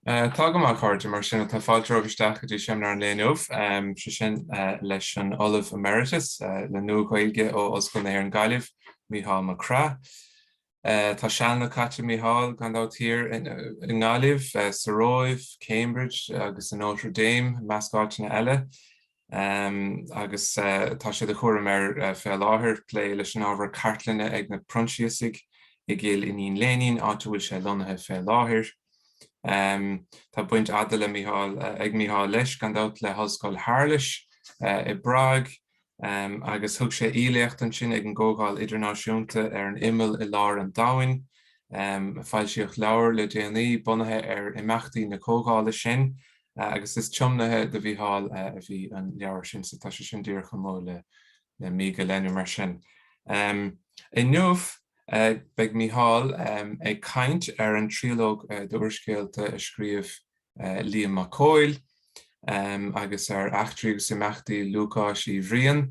Tá go maith, a chairde, mar sin tá fáilte romhaibh isteach go dtí seimineár an lae inniu, sé sin leis an Ollamh Emeritus le Nua-Ghaeilge ó Ollscoil na hÉireann Gaillimh, Mícheál Mac Craith. Tá sealanna caite ag Mícheál, gan dabht, thiar i nGaillimh, sa Róimh, Cambridge agus i Notre Dame, i measc áiteanna eile. agus tá sé de chúram air fé láthair plé leis an ábhar cartlainne ag na Proinsiasaigh i gCill Iníon Léinín, áit a bhfuil sé lonnaithe fé láthair. Tá baint fhada le Micheál, ag Micheál leis, gan dabht, le hOllscoil Shéarlais i bPrág, agus thug sé aoiléacht ansin ag an gComhdháil Idirnáisiúnta ar an Imeall i lár an domhain. Foilsíodh leabhar le déanaí bunaithe ar imeachtaí na comhdhála sin, agus is tiomnaithe do Mhícheál a bhí an leabhar sin so tá sé sin díreach amuigh le mí go leith nó mar sin. Inniu beidh Mícheál ag caint ar an triológ d'úrscéalta a scríobh Liam Mac Cóil agus ar eachtraí agus imeachtaí Lúcáis Uí Bhriain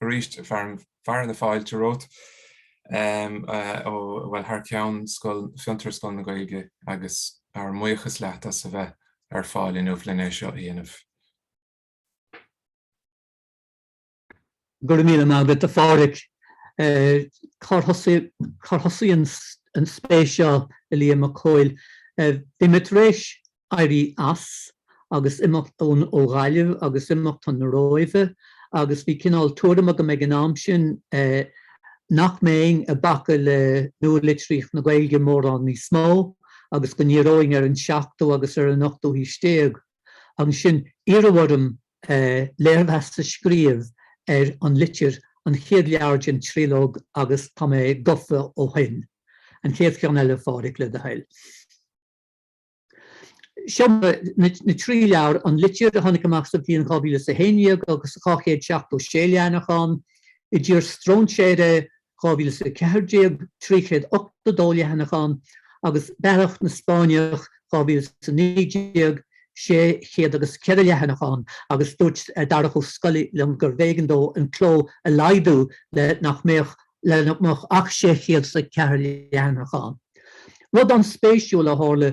arís fearadh na fáilte romhat ó bhuel thar ceann Fiontar Scoil na Gaeilge agus ár mbuíochas leat as a bheith ar fáil inniu linn é seo a dhéanamh. Go raibh míle maith agat a Phádraig. Cár thosaigh an spéis seo i Liam Mac Cóil? Bhí mé tar éis éirí as agus imeacht ón ó Ghaillimh agus imeacht chun na Róimhe agus bhí cineál tuairim agam ag an am sin nach mbeinn ag bacadh le nua-litríocht na Gaeilge mórán níos mó agus go ndíreoinn ar an seachtú agus ar an ochtú haois déag. Ansin iarradh orm léirmheas a scríobh ar An Litir, an chéad leabhar den tríológ agus tá mé gofa ó shin. An chéad cheann eile, Phádraig, le do thoil. Seo na trí leabhar, An Litir a tháinig amach sa bhliain 2011 agus 276 leathanach ann, I dTír Strainséartha, 2014, 382 leathanach ann, agus Bealach na Spáinneach, 2019, sé chéad agus a ceathair leathanach ann, agus dúirt Darach Ó Scolaí liom gurbh éigean dó an cló a laghdú le nach mbeadh le nach mbeadh ach 600 is a ceathair leathanach ann. Rud an-spéisiúil a tharla,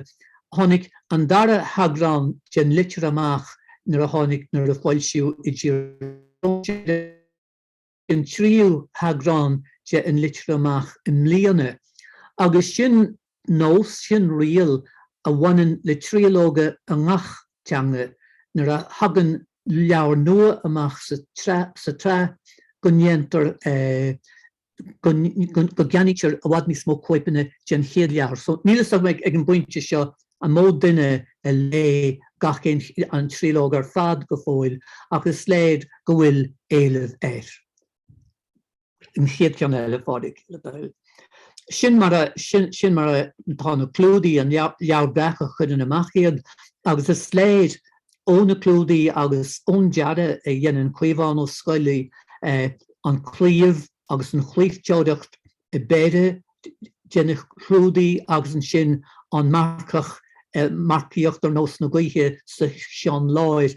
tháinig an dara heagrán den Litir amach nuair a tháinig, nuair a foilsíodh I dTír, an tríú heagrán de An Litir amach i mbliana agus sin nós, sin riail a bhaineann le triológa i ngach teanga, nuair a thagann leabhar nua amach sa tsraith go ndéantar, go gceannaítear i bhfad níos mó cóipeanna den chéad leabhar. So níl fhios agam ag an bpointe seo an mó duine a léigh gach aon, an triológ ar fad go fóill ach is léir go bhfuil éileamh air. an chéad cheann eile a Phádraig le do thoil. Sin mar a sin mar a tá na clúdaí an Leabhar Breac a chuireann amach iad agus is léir ó na clúdaí agus ón dearadh a dhéanann Caomhán Ó Scolaí an claíomh agus an chlaimhteoireacht i bpéire de na clúdaí agus ansin an marcach ag marcaíocht ar nós na gaoithe sa cheann láir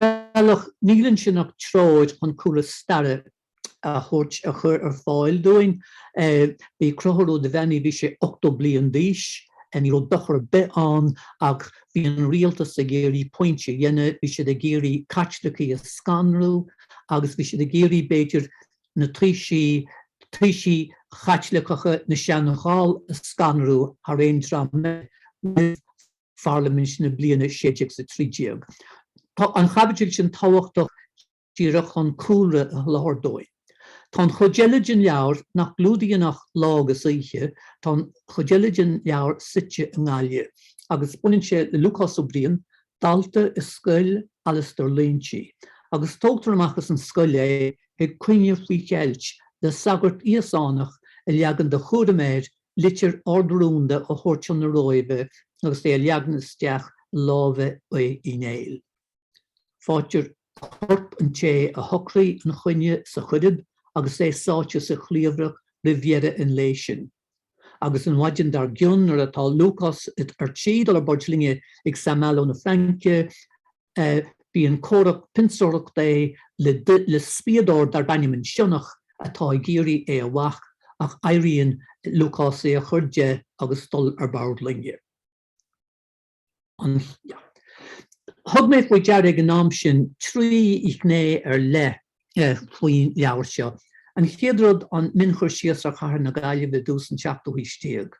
bhealach, níl ansin ach treoir chun cúlra staire a thabhairt a chur ar fáil dúinn. Bhí Conchúr Ó Duibheannaigh, bhí sé 80 bliain d'aois, ní raibh dochar ar bith ann ach bhí an rialtas ag iarraidh pointe a dhéanamh, bhí siad ag iarraidh Caitlicigh a scanrú agus bhí siad ag iarraidh, b'fhéidir, na taoisigh, taoisigh Chaitliceacha na Sean-Ghall a scanrú thar aon dream eile. Pharlaimint na bliana 1613. Tá an chaibidil sin tábhachtach díreach chun cúlra a sholáthar dúinn. Tá an chuid eile den leabhar, nach gclúdaíonn ach lá agus oíche, tá an chuid eile den leabhar suite i nGaillimh agus baineann sé le Lúcás Ó Briain, dalta i scoil Alastair Loingsigh, agus tógtar amach as an scoil é ag coinne faoi cheilt le sagart Íosánach a leagann de chúram air litir ard-rúnda a thabhairt chun na Róimhe agus é a leagan isteach i lámha Uí Néill. Faightear corp an té a shocraigh an choinne sa Choirib agus é sáite sa chliabhrach roimh dheireadh an lae sin. Agus an mhaidin dar gcionn nuair atá Lúcás ar tí dul ar bord loinge go Saint-Malo na Fraince, bíonn comhrac pionsóireachta aige le spiadóir darb ainm an Sionnach atá ag iarraidh é a bhac ach éiríonn le Lúcás é a chur de agus dul ar bord loinge. Thug mé faoi deara ag an am sin trí ghné ar leith faoin leabhar seo. An chéad rud an mionchur síos ar chathair na Gaillimhe i dtús an tseachtú haois déag.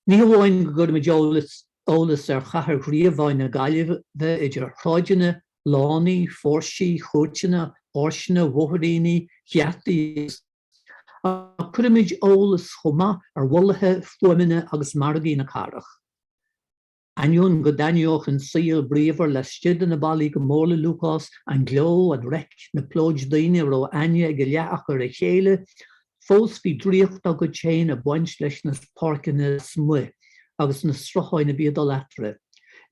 Ní hamháin go gcuirimid eolas ar chathair ghríobháin na Gaillimhe idir shráideanna, lánaí, phóirsí, chúirteanna, áirseanna, bhóithríní, gheataí ach cuirimid eolas chomh maith ar bholaithe, fuaimeanna agus margaí na cathrach. Ainneoin go dtaitneodh an saol bríomhar laistigh de na ballaí go mór le Lúcás, an gleo, an reic, na plóid daoine a raibh aithne ag a leath acu ar a chéile, fós bhí draíocht dá gcuid féin ag baint leis na páirceanna lasmuigh agus na srutháin a bhí ag dul eatarthu.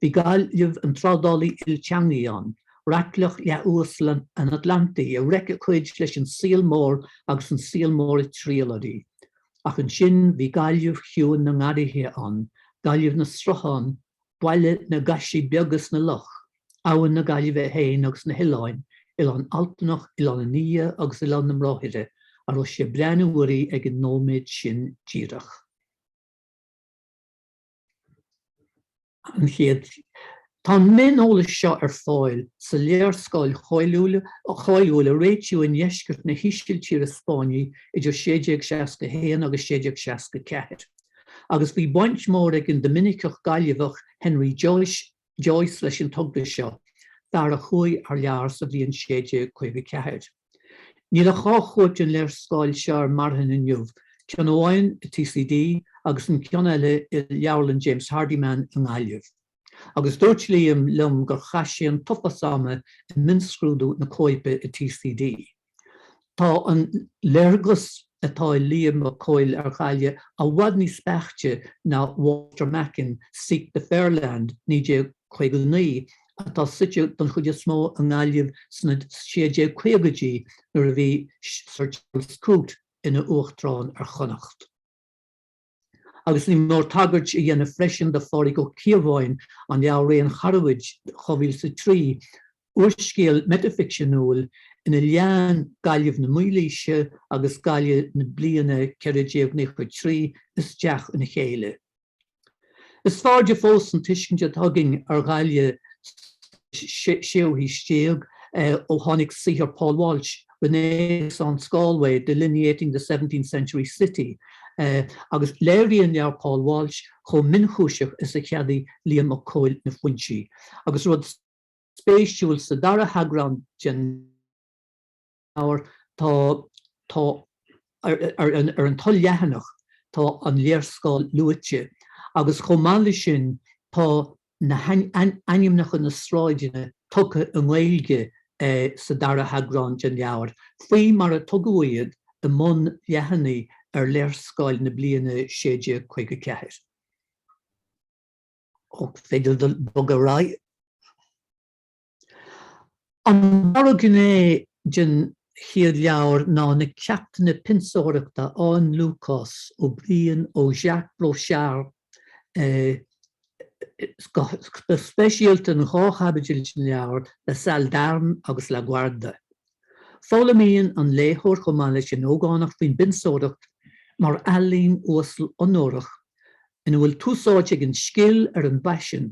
Bhí Gaillimh, an trádálaí ilteangaigh ann, raicleach leath-uasal an Atlantaigh, ag reic a cuid leis an saol mór agus an saol mór ag triall uirthi. Ach ansin bhí Gaillimh Chiúin na nGarraithe ann, Gaillimh na Sruthán, baile na gcaisí beaga is na Loch, Abhainn na Gaillimhe féin agus na hOileáin, Oileán Altanach, Oileán an Fhia agus Oileán na mBráithre, a raibh sé ag breathnú uirthi ag an nóiméad sin díreach. an chéad Tá an mioneolas seo ar fáil sa léarscáil cháiliúil a réitíodh i ndeisceart na hÍsiltíre Spáinní idir 1661 agus 1664, agus bhí baint mhór ag an Doiminiceach Gaillimheach Henry Joyce Joyce leis an togra seo, fear a chuaigh thar lear sa bhliain 1654. Níl ach dhá chóip den léarscáil seo ar marthain inniu, ceann amháin i TCD agus an ceann eile i Leabharlann James Hardiman i nGaillimh, agus dúirt Liam liom gur chaith sé an t-uafás ama ag mionscrúdú na cóipe i TCD. Tá an léargas atá ag Liam Mac Cóil ar Ghaillimh i bhfad níos beaichte ná Walter Macken, Seek the Fair Land, 1959, atá suite don chuid is mó i nGaillimh sna 1650idí nuair a bhí Sir Charles Coote ina Uachtarán ar Chonnacht. agus ní mór tagairt a dhéanamh freisin do Phádraig Ó Cíobháin, an leabhar Ré an Charbaid, 2003, úrscéal meitificseanúil ina leánn Gaillimh na Mílaoise agus Gaillimh na bliana 1493 isteach ina chéile. Is fearrde fós an tuiscint atá againn ar Ghaillimh sa séú haois déag ó tháinig saothar Paul Walsh, Renaissance Galway, Delineating the Seventeenth Century City agus léiríonn leabhar Paul Walsh chomh mionchúiseach is a cheadaigh Liam Mac Cóil na foinsí, agus rud spéisiúil, sa dara heagrán den leabhar tá tá ar an tul-leathanach tá an léarscáil luaite agus chomh maith leis sin tá na hainmneacha na sráideanna tugtha i nGaeilge sa dara heagrán den leabhar, faoi mar a tugadh iad i mbun leathanaigh ar léarscáil na bliana 1654. Féidir bogadh ar aghaidh. An dara gné den chéad leabhar ná na ceachtanna pionsóireachta a fhaigheann Lúcás Ó Briain ó Jacques Brochard, go speisialta in dhá chaibidil den leabhar, La Salle d'Armes agus La Guarda. Foghlaimíonn an léitheoir chomh maith leis an ógánach faoin bpionsóireacht mar ealaín uasal onórach ina bhfuil tús áite ag an scil ar an bpaisean,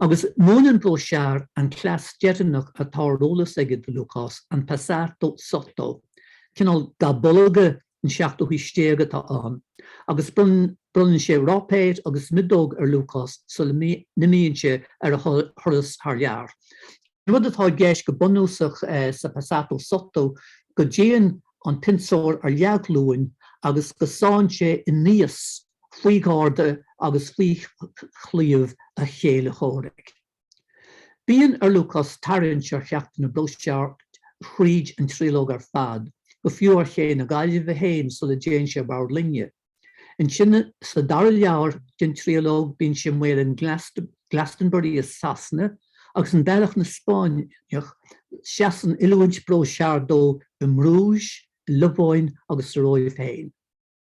agus múineann Brochard an cleas deireanach atá ar eolas aige do Lúcás, an passato sotto, cineál ga bolga an seachtú haois déag atá ann, agus bronnann sé ráipéar agus miodóg ar Lúcás sula n-imíonn sé ar a thuras thar lear. An rud atá i gceist go bunúsach sa passato sotto go dtéann an pionsóir ar leathghlúin agus go sáinn sé aníos faoi gharda agus faoi chlaíomh a chéile chomhraic. Bíonn ar Lúcás tarraingt ar cheachtanna Brochard thríd an triológ ar fad, go fiú ar Ché na Gaillimhe féin sula dtéann sé ar bord loinge. Ansin sa dara leabhar den triológ bíonn sé i mbaol in Glastonbury i Sasana agus in Bealach na Spáinneach, seasann oiliúint Brochard dó i mBruges, i Lobháin agus sa Róimh féin.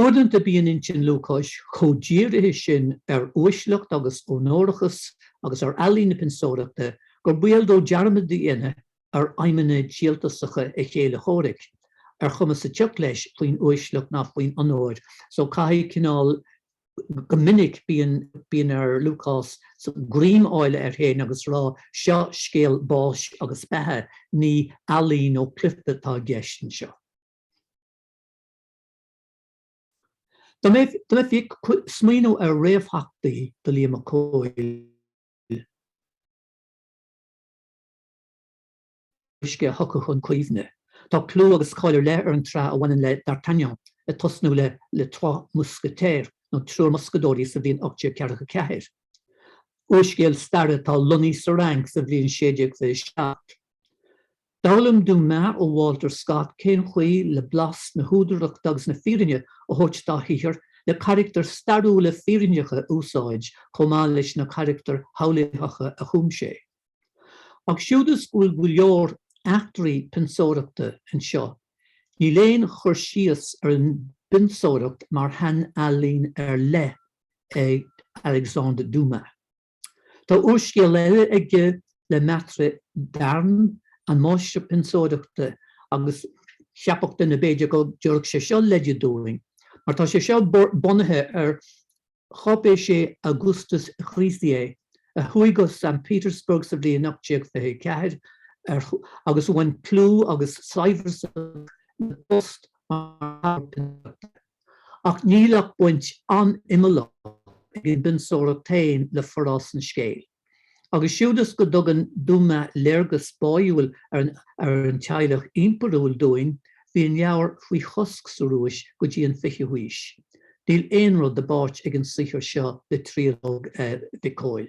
Uaireanta bíonn intinn Lúcáis chomh dírithe sin ar uaisleacht agus onórachas agus ar ealaín na pionsóireachta gur baol dó dearmad a dhéanamh ar aidhmeanna díoltasacha a chéile chomhraic, ar chuma sa tsioc leis faoin uaisleacht ná faoin onóir so caithfidh cineál go minic bíonn ar Lúcás greim a fháil air féin agus rá seo scéal báis agus beatha, ní ealaín nó cluiche atá i gceist anseo. Dá mbeifí ag smaoineamh ar réamhtheachtaí do Liam Mac Cóil, is cé a thiocfadh chun cuimhne. Tá clú agus cáil ar leith ar an tsraith a bhaineann le D'Artagnan, ag tosnú le Les Trois Mousquetaires, nó Triúr Muscaedóirí, sa bhliain 1844. Úrscéal staire atá lonnaithe sa Fhrainc sa bhliain 1627. D'fhoghlaim Dumas ó Walter Scott cén chaoi le blas na húdarachta agus na fírinne a thabhairt dá shaothar, le carachtair stairiúla fírinneacha a úsáid chomh maith leis na carachtair shamhlaítheacha a chum sé. Ach siúd is go bhfuil go leor eachtraí pionsóireachta anseo, níl aon chur síos ar an bpionsóireacht mar shainealaín ar leith ag Alexandre Dumas. Tá úrscéal eile aige Le Maître d'armes, An Máistir Pionsóireachta, agus cheapfadh duine b'fhéidir go dtabharfadh sé seo leide dúinn, mar tá sé seo bunaithe ar cháipéisí Augustus Grisier, a chuaigh go San Petersburg sa bhliain 1824 agus a bhain clú agus saibhreas amach ina phost mar mháistir pionsóireachta. Ach níl ach baint an-imeallach ag an bpionsóireacht féin le forás an scéil. Agus siúd is go dtugann Dumas léargas báúil ar an teaghlach impiriúil dúinn, bhí an leabhar faoi chosc sa Rúis go dtí an fichiú haois. Níl aon rud i bpáirt ag an saothar seo le tríológ Mhic Cóil.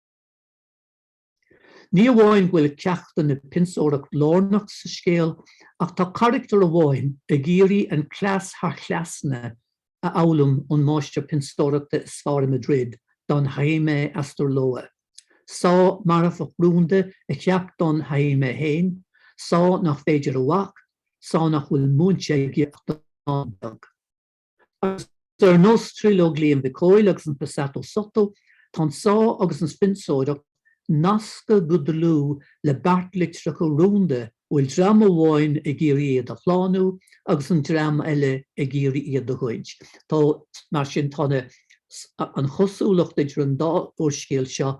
Ní amháin go bhfuil ceachtanna pionsóireacht lárnach sa scéal ach tá caractar amháin ag iarraidh an cleas thar chleasanna a fhoghlaim ón máistir pionsóireachta is fearr i Madrid, Don Jaime Astarloa. Sá marfach rúnda a cheap Don Jaime féin, sá nach féidir a bhac, sá nach bhfuil múinte aige ach dornán beag. Agus ar nós tríológ Liam Mhic Cóil agus an Passato Sotto, tá an sá agus an phionsóireacht nasctha go dlúth le beart litreacha rúnda a bhfuil dream amháin ag iarraidh iad a shlánú agus an dream eile ag iarraidh iad a ghoid. Tá, mar sin tá an an-chosúlacht idir an dá úrscéal seo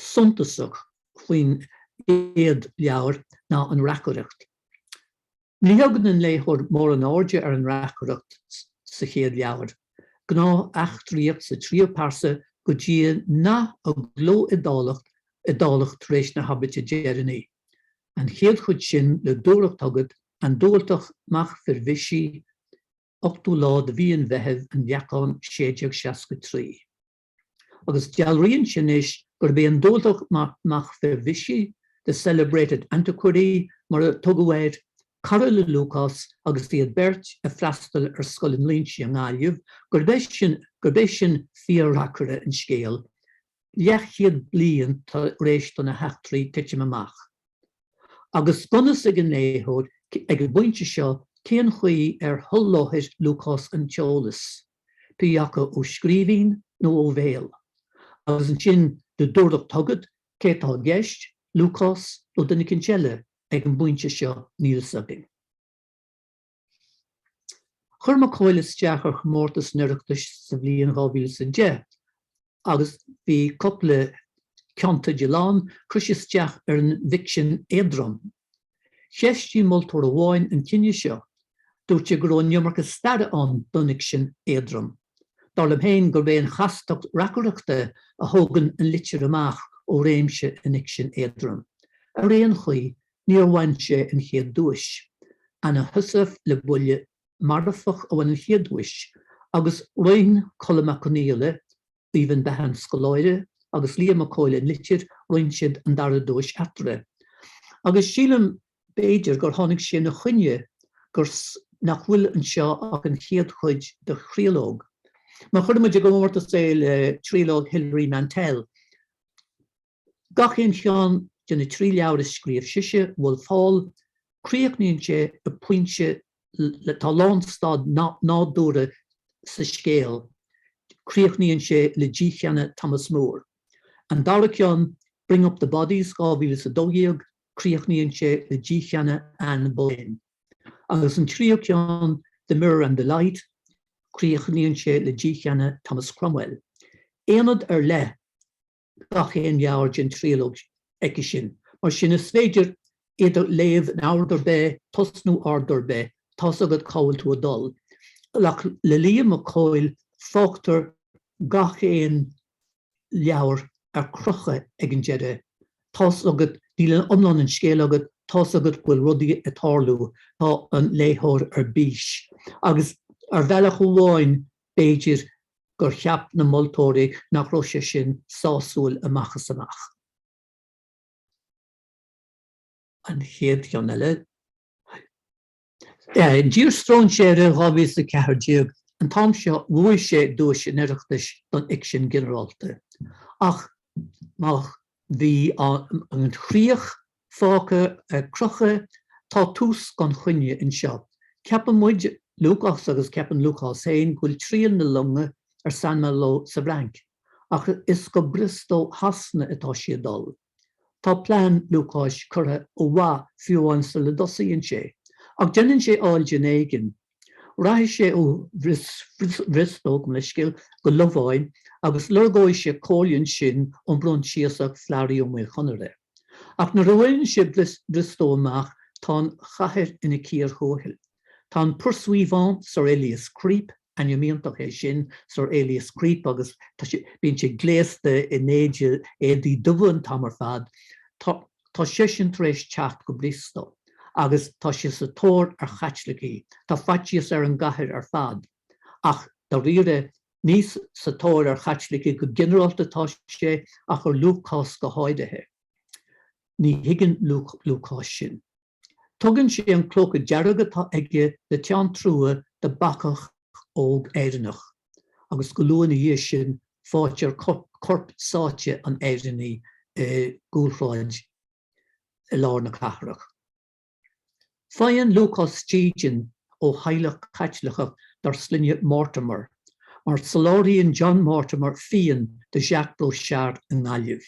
suntasach faoin gcéad leabhar ná an reacaireacht. Ní thugann an léitheoir mórán airde ar an reacaireacht sa chéad leabhar, gnáth-eachtraíocht sa tríú pearsa go dtí nath i gcló iodálach iodálach tar éis na habairte deireanaí, an chéad chuid sin le dúthracht agat, an Dubhaltach Mac Firbhisigh, 8ú lá de mhí an Mheithimh, An Leacán, 1663. agus dealraíonn sé anois gurb é an Dubhaltach Mac Firbhisigh, the celebrated antiquary, mar a tugadh air, cara le Lúcás agus iad beirt ag freastal ar Scoil an Línsigh i nGaillimh, gurb é sin fíor-reacaire an scéil, leathchéad bliain tar éis do na heachtraí titim amach. Agus gan a fhios ag an léitheoir ag an bpointe seo cén chaoi ar sholáthair Lúcás an t-eolas. pé acu ó scríbhinn nó ó bhéal, agus ansin le dúthracht agat cé atá i gceist, Lúcás nó duine eicínt eile ag an bpointe seo níl 'fhios againn. Chuir Mac Cóil isteach ar chomórtas an Oireachtais sa bhliain 2010 agus bhí cupla ceannteideal ann, chuir sé isteach ar an bhficsean éadrom Cheistigh moltóir amháin an cinneadh seo, dúirt sé go raibh an iomarca staire ann don fhicsean éadrom. Dar liom féin gurb é an chastacht reacaireachta a thógann an litir amach ó réimse an fhicsin éadroim. Ar aon chaoi, níor bhain sé an chéad duais. Anna Heussaff le Buille Marfach a bhain an chéad duais, agus roinn Colm Mac Confhaola, Aoibheann Behan Scoláire agus Liam Mac Cóil An Litir roinn siad an dara duais eatarthu agus sílim b'fhéidir gur tháinig sé ina choinne gur nach bhfuil anseo ach an chéad chuid de thríológ má chuireann muid i gcomórtas é le tríológ Hilary Mantel. Gach aon cheann de na trí leabhar a scríobh sise, Wolf Hall, críochnaíonn sé ag pointe le tá lánstad nádúrtha sa scéal, críochnaíonn sé le dícheannadh Thomas More. An dara ceann, Bring Up the Bodies, 2012, críochnaíonn sé le dícheannadh Anne Boleyn. Agus an tríú ceann, The Mirror and the Light, críochnaíonn sé le dícheannadh Thomas Cromwell. Aonad ar leith. gach aon leabhar den tríológ aici sin. Mar sin, is féidir iad a léamh in ord ar bith, tosnú in ord ar bith, tá's agat cá bhfuil tú ag dul. Ach le Liam Mac Cóil, fágtar gach aon leabhar ar crochadh ag an deireadh. Tá's agat, níl iomlán an scéil agat, tá's agat go bhfuil rudaí ag tarlú, tá an léitheoir ar bís. Agus ar bhealach amháin, B'fhéidir gur cheap na moltóirí nach raibh sé sin sásúil amach is amach. An chéad cheann eile. I dTír Strainséartha 2014, an t-am seo bhuaigh sé duais an Oireachtais don fhicsean ginearálta. Ach má bhí an chríoch fágtha ar crochadh, tá tús gan choinne anseo. Ceapann muid, Lúcás agus ceapann Lúcás féin, go bhfuil triall na longa ar Saint-Malo sa bhFrainc, ach is go Briostó Shasana atá sí ag dul. Tá plean Lúcáis curtha ó mhaith fiú amháin sula dtosaíonn sé, ach déanann sé áil den éigean Rachaidh sé ó Bhriostó go le scéal go Lobháin agus lorgóidh sé comhairle ansin ón bProinsiasach Flaithrí Ó Maoil Chonaire. Ach nuair a bhaineann sé Briostó amach tá an chathair ina cíor thuathail. Tá an pursuivant, Sir Elias Creep, ainm iontach é sin, Sir Elias Creep agus bíonn sé gléasta in éide éadaí dubha an t-am ar fad, tá. Tá seisean tar éis teacht go Briostó agus tá sé sa tóir ar Chaitlicigh, tá faitíos ar an gcathair ar fad. Ach dáiríre ní sa tóir ar Chaitlicigh go ginearálta atá sé ach ar Lúcás go háirithe. Ní thuigeann Lúcás sin. Tugann sé an clóca dearg atá aige le teann trua do bacach óg Éireannach. agus go luath ina dhiaidh sin faightear corp sáite an Éireannaigh i gcúlshráid i lár na cathrach. Faigheann Lúcás dídean ó theaghlach Caitliceach dar sloinne Mortimer, mar soláthraíonn John Mortimer fíon do Jacques Brochard i nGaillimh.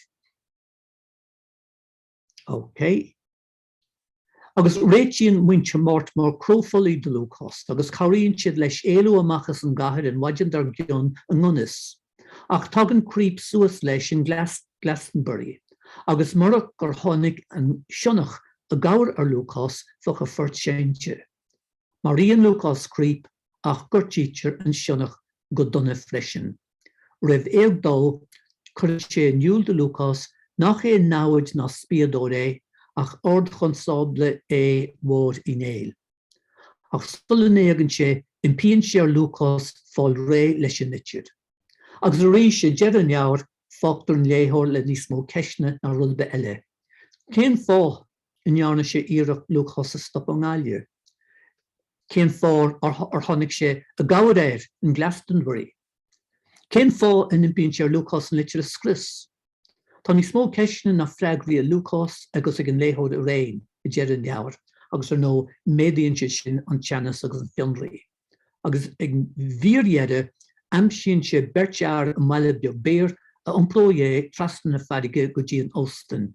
Agus réitíonn muintir Mortimer cró folaigh do Lúcás agus cabhraíonn siad leis éalú amach as an gcathair an mhaidin dar gcionn i ngan fhios. Ach tagann Creep suas leis in Glastonbury agus murach gur tháinig an sionnach i gcabhair ar Lúcás bheadh a phort seinnte. Maraíonn Lúcás Creep ach gortaítear an sionnach go dona freisin. Roimh éag dó, cuireann sé in iúl do Lúcás nach aon namhaid ná spíodóir é, ach Ardchonstábla Aodha Mhóir Uí Néill. Ach sula n-éagann sé, impíonn sé ar Lúcás fáil réidh leis an litir. Agus arís, ag deireadh an leabhair, fágtar an léitheoir le níos mó ceisteanna ná rud ar bith eile. Cén fáth? a ndearna sé iarracht Lúcás a stop i nGaillimh. Cén fáth ar tháinig sé i gcabhair air in Glastonbury? Cén fáth a n-impíonn sé ar Lúcás an litir a scrios? Tá níos mó ceisteanna ná freagraí ag Lúcás agus ag an léitheoir araon ag deireadh an leabhair agus ar ndóigh méadaíonn siad sin an teannas agus an fionraí. agus ag an bhfíordheireadh aimsíonn sé beirt fhear i mbaile beag Beer a iompróidh é trasna na farraige go dtí an Ostainn.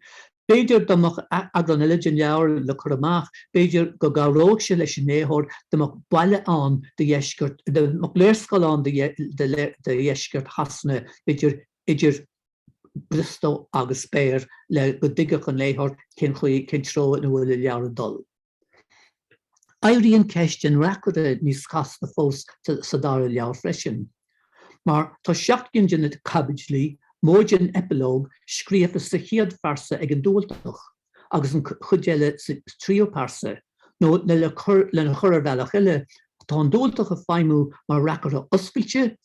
B'fhéidir dá mbeadh eagrán eile den leabhar le cur amach, b'fhéidir go gcabhródh sé leis an léitheoir, dá mbeadh baile ann de dheisceart, dá mbeadh léarscáil ann de dheisceart Shasana, b'fhéidir idir Briostó agus Beer le go dtuigfeadh an léitheoir cén chaoi, cén treo ina bhfuil an leabhar ag dul. Éiríonn ceist an reacaire níos casta fós sa dara leabhar freisin, mar tá seacht gcinn de na caibidlí, móide an eipealóg, scríofa sa chéad phearsa ag an Dubhaltach, agus an chuid eile sa tríú pearsa, nó lena chur ar bhealach eile, tá an Dubhaltach ag feidhmiú mar reacaire oscailte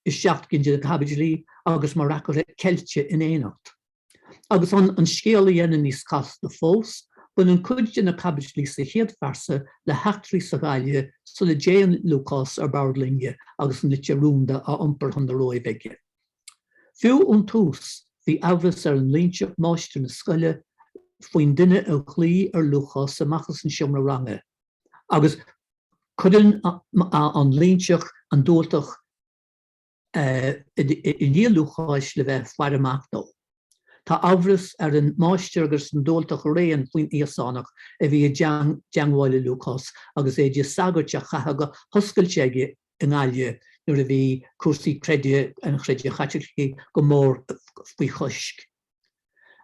i seacht gcinn de na caibidlí, agus mar reacaire ceilte in éineacht. Agus chun an scéal a dhéanamh níos casta fós, baineann cuid de na caibidlí sa chéad phearsa le heachtraí sa Ghaillimh sula dtéann Lúcás ar bord loinge agus an litir rúnda á iompar chun na Róimhe aige. Fiú ón tús, bhí amhras ar an Loingseach, máistir na scoile, faoin duine a ghlaoigh ar Lúcás amach as an seomra ranga, agus cuireann an Loingseach an Dubhaltach, i ndiaidh Lúcáis le bheith ag faire amach dó. Tá amhras ar an Máistir agus an Dubhaltach araon faoin Íosánach a bhí i dteangmháil le Lúcás agus éide sagairt á chaitheamh go hoscailte aige i nGaillimh nuair a bhí cúrsaí creid an Chreidimh Chaitlicigh go mór faoi chois.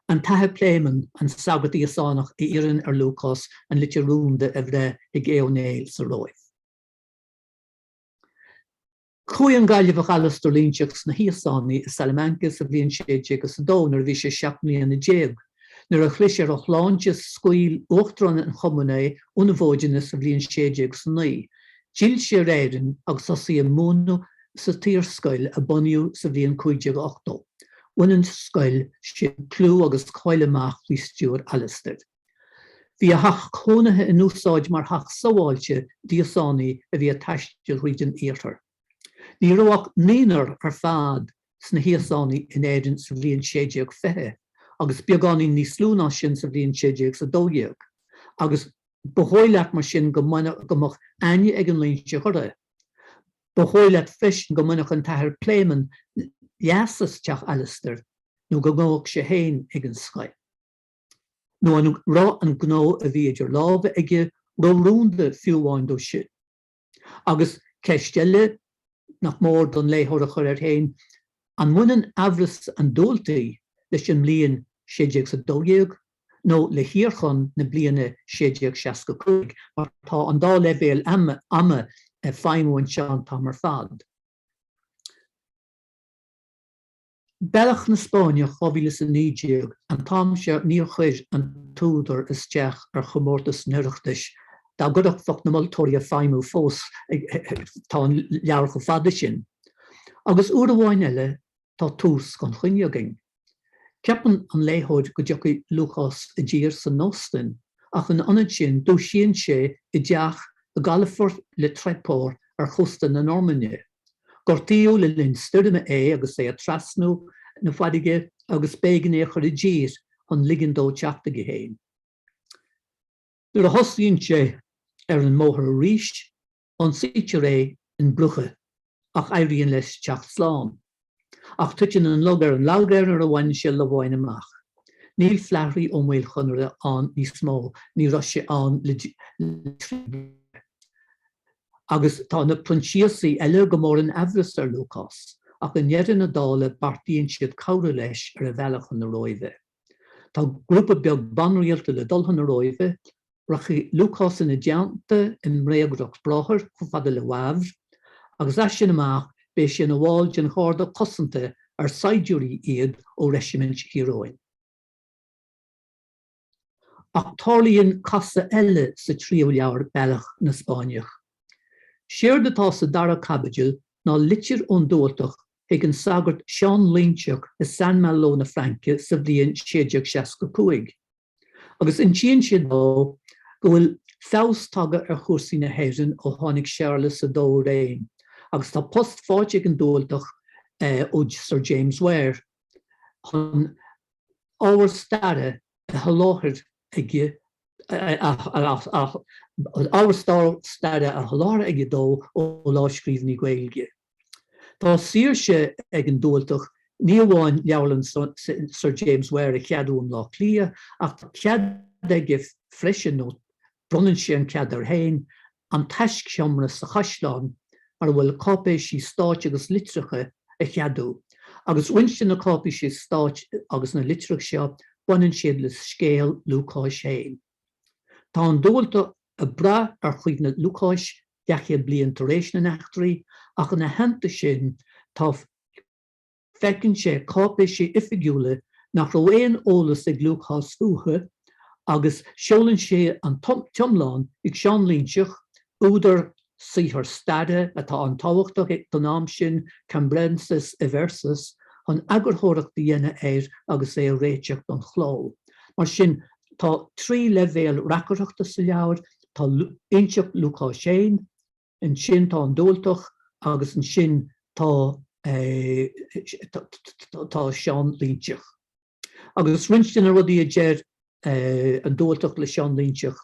An tAthair Pléimeann, an sagart Íosánach, a iarrann ar Lúcás an litir rúnda a bhreith chuig Aodh Ó Néill sa Róimh. Chuaigh an Gaillimheach Alasdair Loingseach sna hÍosánaigh i Salamanca sa bhliain 1602 nuair a bhí sé seacht mbliana déag. Nuair a chlis ar a shláinte scaoil uachtarán an chumainn é óna mhóideanna sa bhliain 1609. D'fhill sé ar Éirinn agus thosaigh ag múineadh sa tSaorscoil a bunaíodh sa bhliain 1580. Bhain an scoil sin clú agus cáil amach faoi stiúir Alasdair. Bhí a theach cónaithe in úsáid mar theach sábháilte d'Íosánaigh a bhí ag taisteal thríd an iarthar. Ní raibh ach naonúr ar fad sna hÍosánaigh in Éirinn sa bhliain 1620, agus beagáinín níos lú ná sin sa bhliain 1612, agus ba dhóigh leat mar sin go mbeadh aithne ag an Loingseach orthu. Ba dhóigh leat freisin go mbainfeadh an tAthair Pléimeann leas as teach Alastair nó go ngabhfadh sé féin ag an scoil. nó an raibh an gnó a bhí idir lámha aige ró-rúnda fiú amháin dó sin? Agus ceist eile nach mór don léitheoir a chur air féin, an mbaineann amhras an Dubhaltaigh leis an mbliain sé déag is a dó dhéag nó le hiarchonn na bliana sé déag seasca cúig, mar tá an dá leibhéal ama ag feidhmiú anseo an t-am ar fad. Bealach na Spáinne 2019 An t-am seo níor chuir an t-údar isteach ar chomórtas an Oireachtais. Dá gcuirfeadh bheadh na moltóirí ag feidhmiú fós tá an leabhar chomh fada sin. Agus uair amháin eile tá tús gan choinne againn. Ceapann an léitheoir go dtiocfaidh Lúcás i dtír san Ostainn, ach ina ionad sin dúisíonn sé i dteach i gcalafort Le Tréport ar chósta na Normainne. Gortaíodh le linn stoirme é agus é ag trasnú na farraige agus b'éigean é a chur i dtír chun ligean dó teacht chuige féin. Nuair a thosaíonn sé ar an mbóthar arís, ionsaítear é in Brugge ach éiríonn leis teacht slán. Ach tuiteann an lug ar an lag air nuair a bhaineann sé Lobháin amach. Níl Flaithrí Ó Maolchonaire ann níos mó, ní raibh sé ann le trí bliana. Agus tá na Proinsiasaigh eile go mór in aimhreas ar Lúcás, ach i ndeireadh na dála beartaíonn siad cabhrú leis ar a bhealach chun na Róimhe. Tá grúpa beag banrialta le dul chun na Róimhe. Rachaidh Lúcás ina dteannta i mbréagriocht bráthair chomh fada le Wavre, agus as sin amach beidh sé ina bhall den gharda cosanta ar saighdiúirí iad ó reisimint Thír Eoghain. Ach tarlaíonn casadh eile sa tríú leabhar, Bealach na Spáinneach. Séard atá sa dara caibidil ná litir ón Dubhaltach chuig an sagart Seán Linseach i Saint Malo na Fraince sa bhliain 1665, agus insíonn sé dó, go bhfuil feabhas tagtha ar chúrsaí na hÉireann ó tháinig Séarlas a Dó i réim, agus tá post faighte ag an Dubhaltach ó Sir James Ware chun ábhar staire a sholáthar aige ábhar staire a sholáthar aige dó ó lámhscríbhinní Gaeilge. Tá saoirse ag an Dubhaltach ní amháin Leabharlann Sir James Ware a cheadú i mBleá Cliath ach tá cead aige freisin, nó bronnann sé an cead air féin, an taiscsheomra sa Chaisleán mar a bhfuil cáipéisí stáit agus litreacha a cheadú. Agus roinnt de na cáipéisí stáit agus na litreacha seo baineann siad le scéal Lúcáis féin. Tá an Dubhaltach ag brath ar chuimhne Lúcáis daichead bliain tar éis na n-eachtraí ach ina theannta sin tá feiceann sé cáipéisí oifigiúla nach raibh aon eolas ag Lúcás fúthu agus seolann sé an t-iomlán ag Seán Linseach, údar saothar staire atá an-tábhachtach ag don am sin Cambrensis Eversus chun eagarthóireacht a dhéanamh air agus é a réiteach don chló. Mar sin tá trí leibhéal reacaireachta sa leabhar, tá inseacht Lúcáis féin, ansin tá an Dubhaltach agus ansin tá Seán Linseach. Agus roinnt de na rudaí a deir an Dubhaltach le Seán Linseach,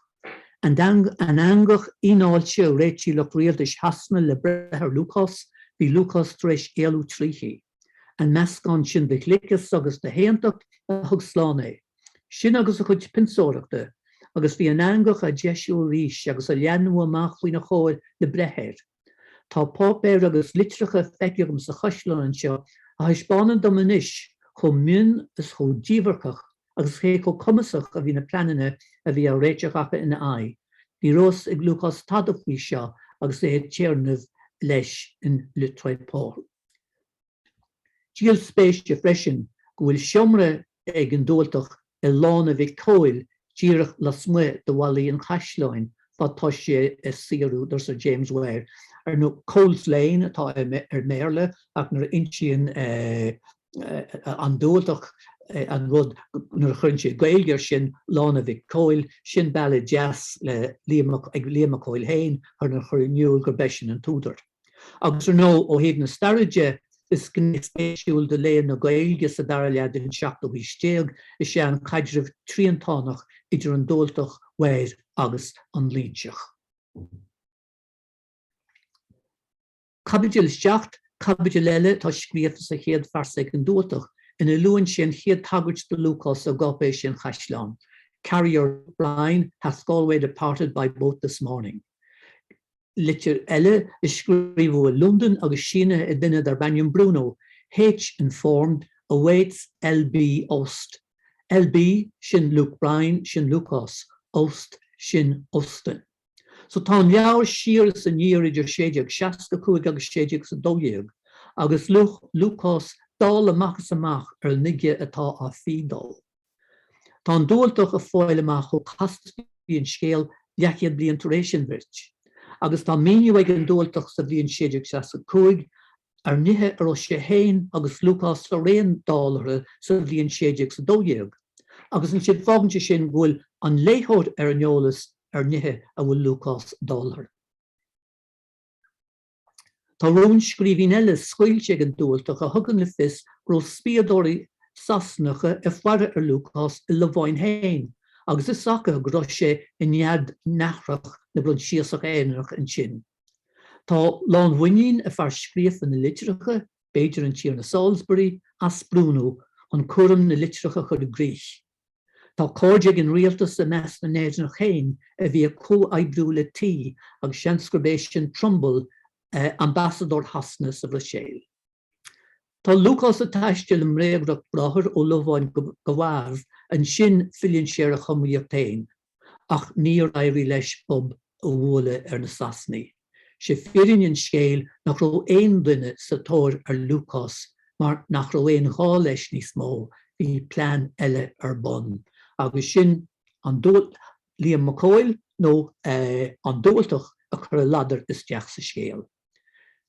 an eangach fhíneáilte a réitigh lucht rialtais Shasana le breith ar Lúcás, bhí Lúcás tar éis éalú tríthi. An meascán sin de ghliceas agus de shaontacht a thug slán é. Sin agus a chuid pionsóireachta. Agus bhí an eangach á deisiú arís agus á leathnú amach faoina chomhair le breith air. Tá páipéir agus litreacha feicthe agam sa chaisleán anseo a thaispeánann dom anois chomh mion is chomh díbhirceach agus cé chomh cumasach a bhí na pleananna a bhí á réiteach acu ina aghaidh. Ní raibh a fhios ag Lúcás tada faoi seo agus é ag téarnamh leis in Le Tréport. Díol spéise freisin go bhfuil seomra ag an Dualtach i Lána Mhic Cóil díreach lasmuigh de bhallaí an Chaisleáin fad tá sé ag saothrú do Sir James Ware, ar ndóigh Cole's Lane atá air i mBéarla ach nuair a insíonn an Dualtach an rud nuair a chuireann sé Gaeilge ar sin, Lána Mhic Cóil, sin bealach deas le Liam Mac Cóil féin chun a chur in iúl gurb eisean an t-údar. Agus ar ndóigh, ó thaobh na staire de, is gné spéisiúil de léann na Gaeilge sa dara leath den seachtú haois déag is é an caidreamh triantánach idir an Dubhaltach, Ware agus an Loingseach. Caibidil 7, caibidil eile atá scríofa sa chéad phearsa ag an Dubhaltach, ina luann sé an chéad tagairt do Lúcás i gcáipéisí an Chaisleáin, 'Carrier Luke Brian hath Galway departed by boat this morning? litir eile a scríobhadh i Londain agus sínithe ag duine darb ainm Bruno H. Informed awaits LB ost. LB, sin Luke Bryan, sin Lúcás, ost, sin Ostend. So tá an leabhar siar is aniar idir 1665 agus sé déag is a dó dhéag agus Lúcás dall amach is amach ar an uige atá á fí dó. Tá an Dubhaltach ag fáil amach chomh casta is bhí an scéal leathchéad bliain tar éis an bhirt, agus tá míniú ag an Dubhaltach sa bhliain 1665 ar nithe a raibh sé féin agus Lúcás araon dall orthu sa bhliain 1612, agus ansin fágann sé sin go bhfuil an léitheoir ar an eolas ar nithe a bhfuil Lúcás dall orthu. Tá rúnscríbhinn eile scaoilte ag an Dualtach a thugann le fios go raibh spiadóirí Sasanacha ag faire ar Lúcás i Lobháin féin agus fios acu go raibh sé i nead nathrach na bProinsiasach Éireannach ansin. Tá lánmhuinín ag fear scríofa na litreacha, b'fhéidir an Tiarna Salisbury, as Bruno chun cúram na litreach a chur i gcrích. Tá cairde ag an rialtas i measc na nÉireannach féin a bhí ag comhoibriú le T agus seans gurb é sin Trumbull, ambasadóir Shasana sa Bhruiséil. Tá Lúcás ag taisteal i mbréagriocht bráthair ó Lobháin go Wavre, ansin filleann sé ar a chumraíocht féin. ach níor éirigh leis bob a bhualadh ar na Sasanaigh. Sé fírinne an scéil nach raibh aon duine sa tóir ar Lúcás mar nach raibh aon ghá leis níos mó, bhí plean eile ar bun agus sin an Liam Mac Cóil nó an Dubhaltach a chur a ladar isteach sa scéal.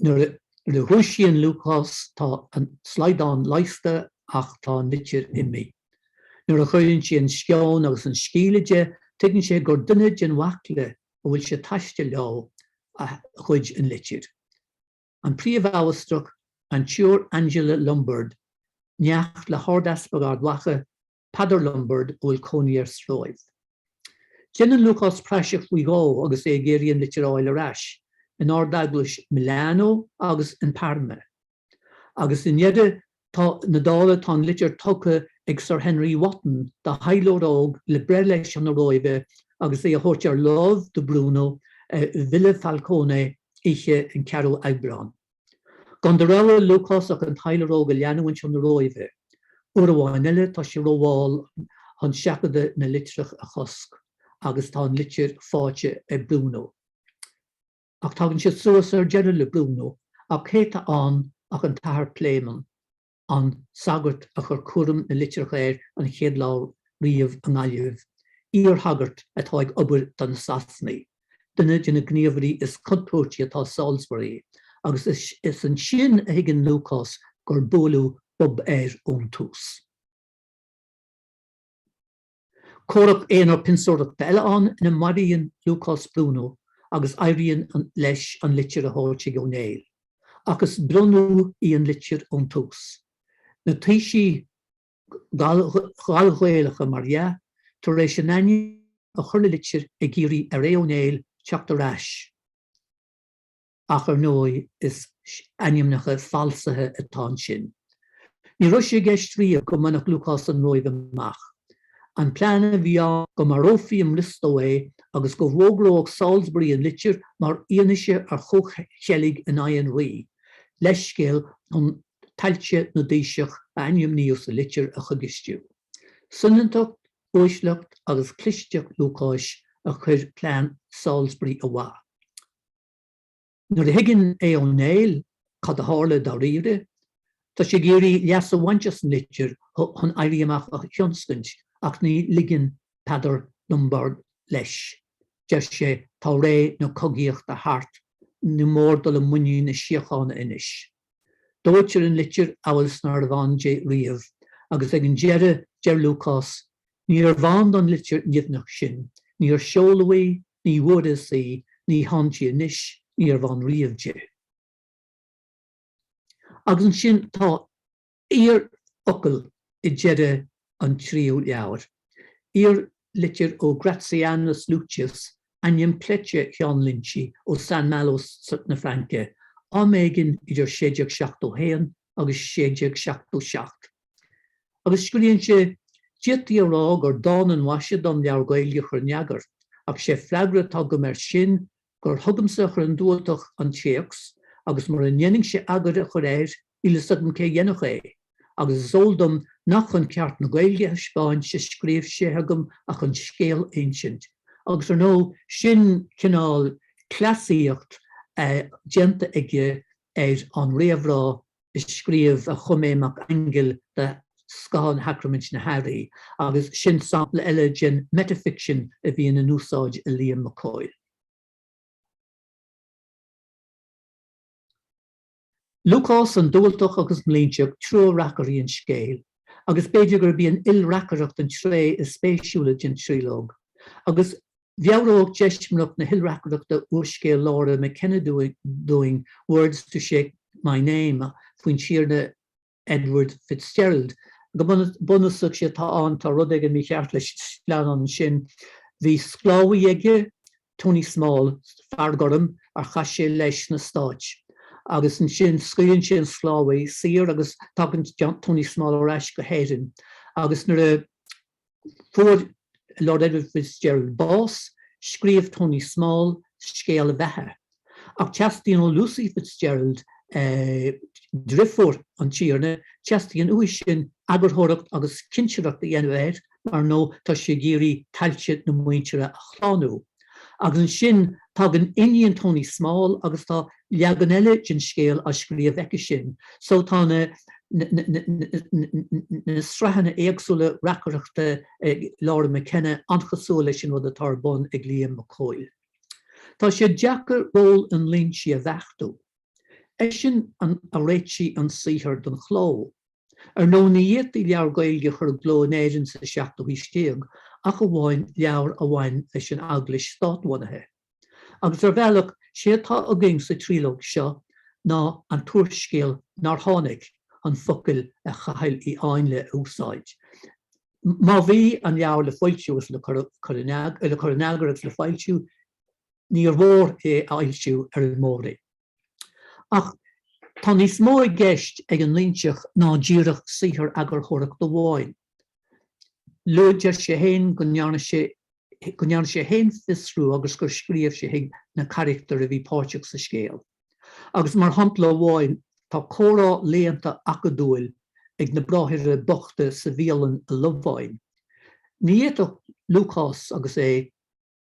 Nuair a dhúisíonn Lúcás tá an slaghdán leigheasta ach tá an litir imithe. Nuair a chuireann sí an sceon agus an sceimhle de tuigeann sé gur duine den bhaicle a bhfuil sé ag taisteal leo a ghoid an litir. An Príomhamhastrach, an tSiúr Angela Lombard, neacht le hArdeaspag Ard Mhacha, Peadar Lombard a bhfuil cónaí air sa Róimh. Déanann Lúcás praiseach faoi dhó agus é ag iarraidh an litir a fháil ar ais, in Ardeaglais Milano agus in Parma. Agus i ndeireadh na dála tá an litir tugtha ag Sir Henry Wotton do thaidhleoir óg le breith leis chun na Róimhe agus é a thabhairt ar lámh do Bruno i Villa Falcone oíche an 4ú Aibreán. Gan de rogha ag Lúcás ach an taidhleoir óg a leanúint chun na Róimhe. Uair amháin eile tá sé rómhall chun seachadadh na litreach a chosc agus tá an litir fáighte ag Bruno. Ach tagann sé suas ar deireadh le Bruno ach cé tá ann ach an tAthair Pléimeann. an sagart a chuir cúram na litreach air an chéad lá riamh i nGaillimh, iar-shagart atá ag obair do na Sasanaigh, duine de na gníomhairí is contúirtí atá ag Salisbury, agus is ansin a thuigeann Lúcás gur buaileadh bob air ón tús. Comhrac aonair pionsóireachta eile ann ina maraíonn Lúcás Bruno agus éiríonn leis an litir a thabhairt chuig Ó Néill, ach is brionnú í an litir ón tús. Na taoisigh Ghallghaelacha mar dhea tar éis a n-ainm a chur le litir ag iarraidh ar Aodh Ó Néill teacht ar ais. ach ar ndóigh is ainmneacha falsaithe atá ansin. Ní raibh sé i gceist riamh go mbainfeadh Lúcás an Róimh amach. An plean a bhí ann go marófaí i mBriostó é agus go bhfógródh Salisbury an litir mar fhianaise ar chomhcheilg in aghaidh an rí. Leithscéal chun tailte na dtaoiseach a ainmníodh sa litir a choigistiú. Soineantacht, uaisleacht agus clisteacht Lúcáis a chuir plean Salisbury ó mhaith. Nuair a thuigeann Aodh Ó Néill cad a tharla dáiríre, tá sé ag iarraidh leas a bhaint as an litir chun éirí amach a thionscaint ach ní ligeann Peadar Lombard leis. Deir sé, Tá ré na cogaíochta thart, ní mór dul i muinín na síochána anois. Dóitear an litir amhail is nárbh ann di riamh, agus ag an deireadh deir Lúcás, 'Níorbh ann don litir nimhneach sin, níor seoladh í, ní bhfuaireas í, ní hann di anois, níorbh ann riamh di. Agus ansin tá. Iar-fhocal i deireadh an tríú leabhair, iar-litir ó Gratianus Lucius, ainm cleite Sheáin Loingsigh ó San Malo na Fraince, am éigin idir 1671 agus 1677. Agus scríonn sé, D'fhéadfaí a rá gur dána an mhaise dom leabhar Gaeilge a chur in eagar, ach 'sé freagra atá agam air sin gur chugamsa a chuir an Dubhaltach an téacs agus mura ndéanfainnse eagar a chur air Níl 'fhios agam cé dhéanfadh é, agus is eol dom nach chun ceart na Gaeilge a thaispeáint a scríobh sé chugam ach chun scéal a insint, agus ar ndóigh sin cineál cleasaíocht déanta aige ar an réamhrá a scríobh a chum Aodh Mac Aingil do Scáthán Shacraimint na hAithrí, agus sin sampla eile den metafiction a bhíonn in úsáid ag Liam Mac Cóil. Lúcás an Dubhaltach agus an Loingseach triúr reacairí an scéil, agus b'fhéidir gurb í an ilreacaireacht an tréith is spéisiúla den tríológ, agus mheabhródh deismireacht na hilreacaireachta úrscéal Laura McKenna dúinn Words to Shape My Name faoin Tiarna Edward Fitzgerald. Go bunúsach sé atá ann, tá rud éigin mícheart leis an sleamhnán ansin. Bhí sclábhaí aige, Tony Small, fear gorm ar chas sé leis sna Stáit, agus ansin scaoileann sé an sclábhaí saor agus tagann Tony Small ar ais go hÉirinn agus nuair a Fuair Lord Edward Fitzgerald bás, scríobh Tony Small scéal a bheatha, ach teastaíonn ó Lucy Fitzgerald, driofúr an Tiarna, teastaíonn uaithi sin eagarthóireacht agus cinsireacht a dhéanamh air, mar nó tá sí ag iarraidh tailte na muintire a shlánú. Agus ansin tagann iníon Tony Small agus tá leagan eile den scéal á scríobh aici sin, so tá na na sraitheanna éagsúla reacaireachta ag Laura McKenna an-chosúil leis an rud atá ar bun ag Liam Mac Cóil. Tá sé deacair ról an Loingsigh a bheachtú. Eisean a réitigh an saothar don chló. Ar ndóigh ní fhéadtaí leabhar Gaeilge a chur i gcló in Éirinn sa seachtú haois déag ach amháin leabhair a bhain leis an Eaglais státbhunaithe. Agus ar bhealach, sé atá againn sa tríológ seo ná an t-úrscéal nár tháinig, chun focail Chathail Uí Háinle a úsáid, má bhí an leabhar le foilsiú is le cur in eagar agus le foilsiú, níor mhór é a fhoilsiú ar an Mór-Roinn. Ach tá níos mó i gceist ag an Loinseach ná díreach saothar eagarthóireachta amháin. Luaitear sé fhéin go ndearna sé fhéin fiosrú agus gur scríobh sé chuig na carachtair a bhí páirteach sa scéal. Agus mar shampla amháin tá comhrá léannta acadúil ag na bráithre bochta sa bhialann i Lováin. Ní fhéadfadh Lúcás agus é.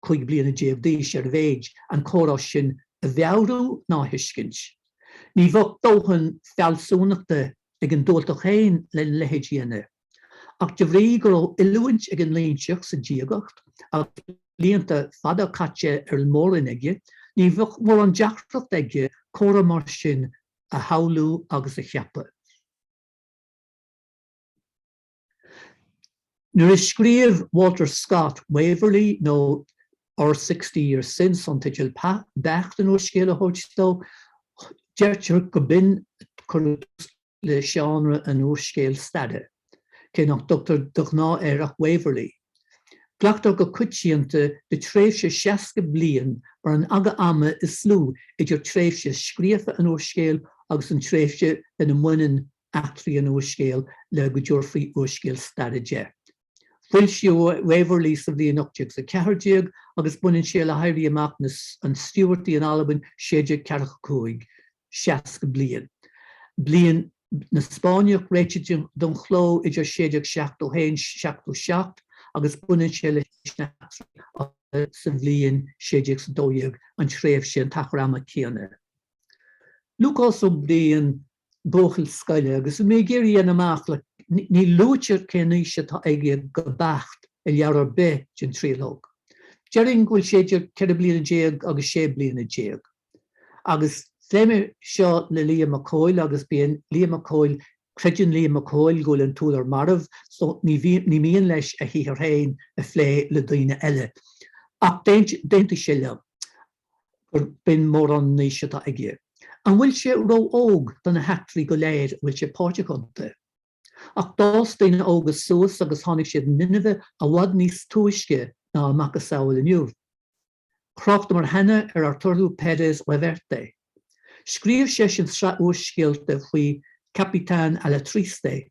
15 bliana d'aois ar a mhéid, an comhrá sin a mheabhrú ná a thuiscint. Ní bheadh dóthain fealsúnachta ag an Dualtach féin lena leithéid a dhéanamh. Ach de bhrí go raibh oiliúint ag an Loingseach sa diagacht agus blianta fada caite ar an Mór-Roinn aige, ní bheadh mórán deacracht aige comhrá mar sin a shamhlú agus a cheapadh. Nuair a scríobh Walter Scott, Waverley nó Or Sixty Years Since an teideal beacht an úrscéil a thabhairt dó, deirtear go b'in a chuir tús le seánra an úrscéil staire, cé nach dtugtar de ghnáth air ach Waverley. Glactar go coitianta le tréimhse seasca bliain mar an aga ama is lú idir tréimhse scríofa an úrscéil agus an tréimhse lena mbaineann eachtraí an úrscéil le go dtabharfaí úrscéal staire de. Foilsíodh Waverley sa bhliain 1814 agus baineann sé le hÉirí Amach na an Stiúbhartaigh in Albain 1645, seasca bliain bliain na Spáinneach réitithe don chló idir 1671 77 agus baineann sé leis na heachtraí sa bhliain 1612 an tréimhse an t-achar ama céanna. Lúcás Ó Briain buachaill scoile agus mé ag iarraidh a dhéanamh amach le, ní luaitear cén aois atá aige go beacht i leabhar ar bith den tríológ. Déarfainn go bhfuil sé idir ceithre bliana déag agus sé bliana déag. Agus phléigh mé seo le Liam Mac Cóil agus bíonn Liam Mac Cóil, creideann Liam Mac Cóil go bhfuil an t-údar marbh so ní mian leis a shaothar féin a phlé le daoine eile. Ach d'aontaigh sé liom. gurb in mórán an aois atá aige. An bhfuil sé ró-óg do na heachtraí go léir a bhfuil sé páirteach iontu? Ach d'fhás daoine óga suas agus tháinig siad in inmhe i bhfad níos túisce ná a macasamhail inniu. Thráchtamar cheana ar Arturo Pérez Reverte. Scríobh seisean sraith úrscéalta faoi Capitán Alatriste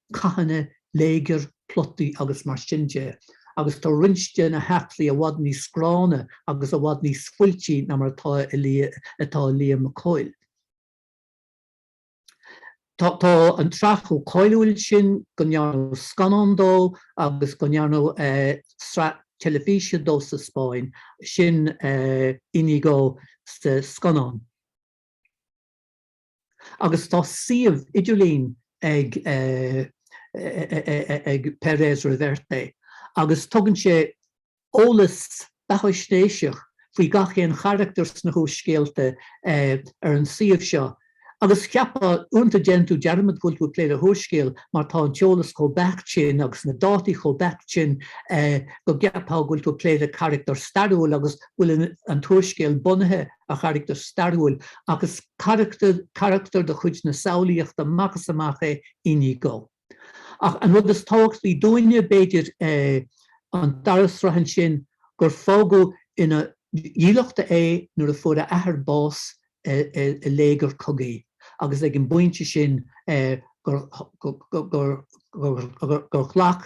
cathanna, léigear, plotaí agus mar sin de agus tá roinnt de na heachtraí i bhfad níos gránna agus i bhfad níos fuiltí ná mar atá ag Liam Mac Cóil. Tá an tsraith chomh cáiliúil sin go ndearnadh scannán de agus go ndearnadh sraith teilifíse de sa Spáinn, sin Inigo sa scannán. agus tá suíomh idirlín ag ag Pérez Reverte agus tugann sé eolas beathaisnéiseach faoi gach aon charachtar sna húrscéalta ar an suíomh seo agus cheapfá, uaireanta déanann tú dearmad go bhfuil tú ag plé le húrscéal mar tá an t-eolas chomh beacht sin agus na dátaí chomh beacht sin go gceapfá go bhfuil tú ag plé le carachtar stairiúil agus go bhfuil an t-úrscéal bunaithe ar charachtar stairiúil ach is carachtar de chuid na samhlaíochta amach is amach é Iñigo. Ach an rud is tábhachtaí dúinne, b'fhéidir, an dara sraith ansin, gur fágadh ina dhílleachta é nuair a fuair a athair bás i léigear cogaidh agus ag an bpointe sin gur ghlac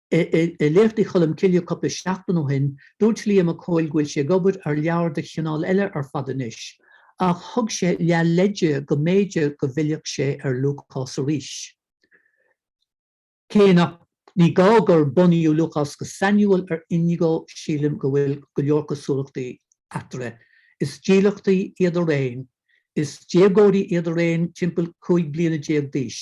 I Léachtaí Cholm Cille cupla seachtain ó shin, dúirt Liam Mac Cóil go bhfuil sé ag obair ar leabhar de chineál eile ar fad anois, ach thug sé leath leide go mb'fhéidir go bhfillfeadh sé ar Lúcás arís. Cé nach ní gá gur bunaíodh Lúcás go sainiúil ar Inigo, sílim go bhfuil go leor cosúlachtaí eatarthu. Is dílleachtaí iad araon. Is déagóirí iad araon, timpeall cúig bliana déag d'aois.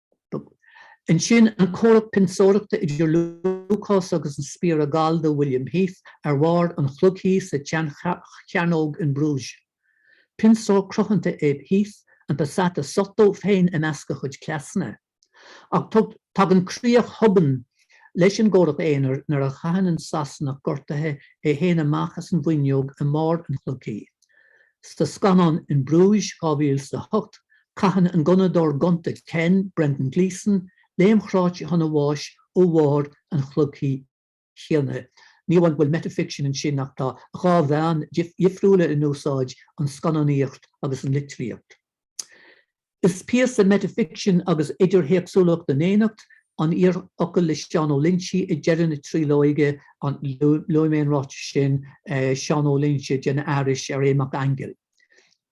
Ansin an comhrac pionsóireachta idir Lúcás agus an spiaire gallda William Heath ar bharr an chloigthí sa tseanchearnóg in Bruges. Pionsóir cruthanta é Heath, an passata sotto féin i measc a chuid cleasanna. Ach tagann críoch thobann leis an gcomhrac aonair nuair a chaitheann an Sasanach gortaithe é féin amach as an bhfuinneog i mbarr an chloigthí. Sa scannán In Bruges 2008 caitheann an gunnadóir gonta Ken, Brendan Gleeson, léim chráite chun a bháis ó bharr an chloigthí chéanna. Ní amháin go bhfuil metafiction ansin ach tá dhá mheán dhifriúla in úsáid, an scannánaíocht agus an litríocht. Is píosa metafiction agus idirthéacsúlacht in éineacht, an t-iarfhocal le Seán Ó Loinsigh ag deireadh na tríolóige, an, luaigh mé an ráiteas sin, Seán Ó Loinsigh ag déanamh aithris ar Aodh Mac Aingil.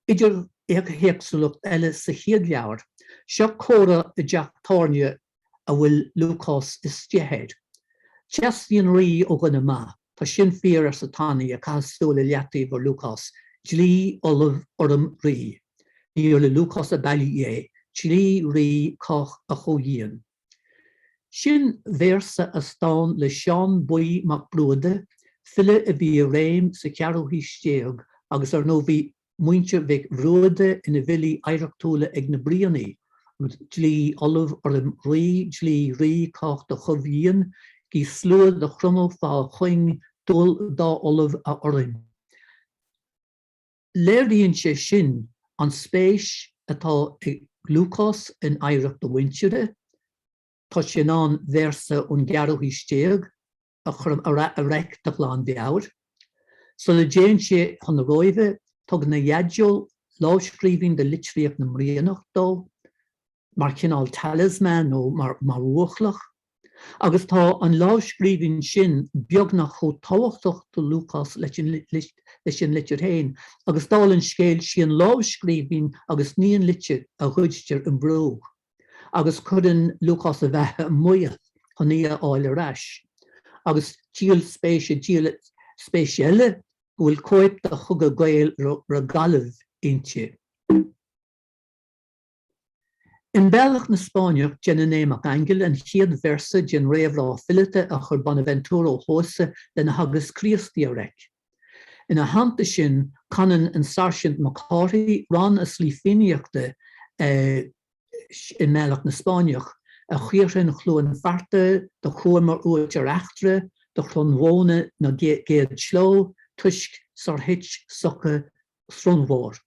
idirthéacsúlacht eile sa chéad leabhar. Seo comhrá i dteach tábhairne a bhfuil Lúcás istigh air. Teastaíonn rí ó dhuine maith. Tá sin fíor, arsa Tanaí, ag caitheamh súil i leataobh ar Lúcás. Dlí, ollamh, urraim, rí. Níor le Lúcás ab fhaillí é. Dlí, rí, cách, a chomhdhíon. Sin véarsa as dán le Seán Buí Mac Bruaideadha, file a bhí i réim sa cheathrú haois déag, agus ar ndóigh bhí. muintir Mhic Bhruaideadha ina bhfilí oidhreachtúla ag na Brianaigh, dlí ollamh urraim rí, dlí rí cách do chomhdhíon, gí sluaigh do chromadh fá chuing, dual dá ollamh a urraim. Léiríonn sé sin an spéis atá ag Lúcás in oidhreacht a mhuintire. Tá sé in ann véarsa ón gceathrú haois déag, a chur a reic de ghlanmheabhair. Sula dtéann sé chun na Róimhe, tugann a dhaideo lámhscríbhinn de litríocht na mBrianach dó, mar chineál talisman nó mar bhuachloch, agus tá an lámhscríbhinn sin beagnach chomh tábhachtach do Lúcás leis an litir féin, agus dála an scéil, sí an lámhscríbhinn agus ní an litir a ghoidtear i mBrugge. agus cuireann Lúcás a bheatha i mbaol chun í a fháil ar ais. Agus díol spéise, díol spéise eile go bhfuil cóip de Chogadh Gael re Gallaibh inti. In Bealach na Spáinneach déanann Aodh Mac Aingil an chéad véarsa den réamhrá fileata a chuir Bonaventura Ó hEodhasa lena Theagasc Críostaí a reic. Ina theannta sin, canann an Sairsint Mac Cárthaigh rann as laoi fiannaíochta i mBealach na Spáinneach, a Chaorthainn Chluain Fearta, do chuamar uait ar eachtra, do Chronnmhóna na gcéad slógh, toisc, sar thuit, Suca Srónmhór.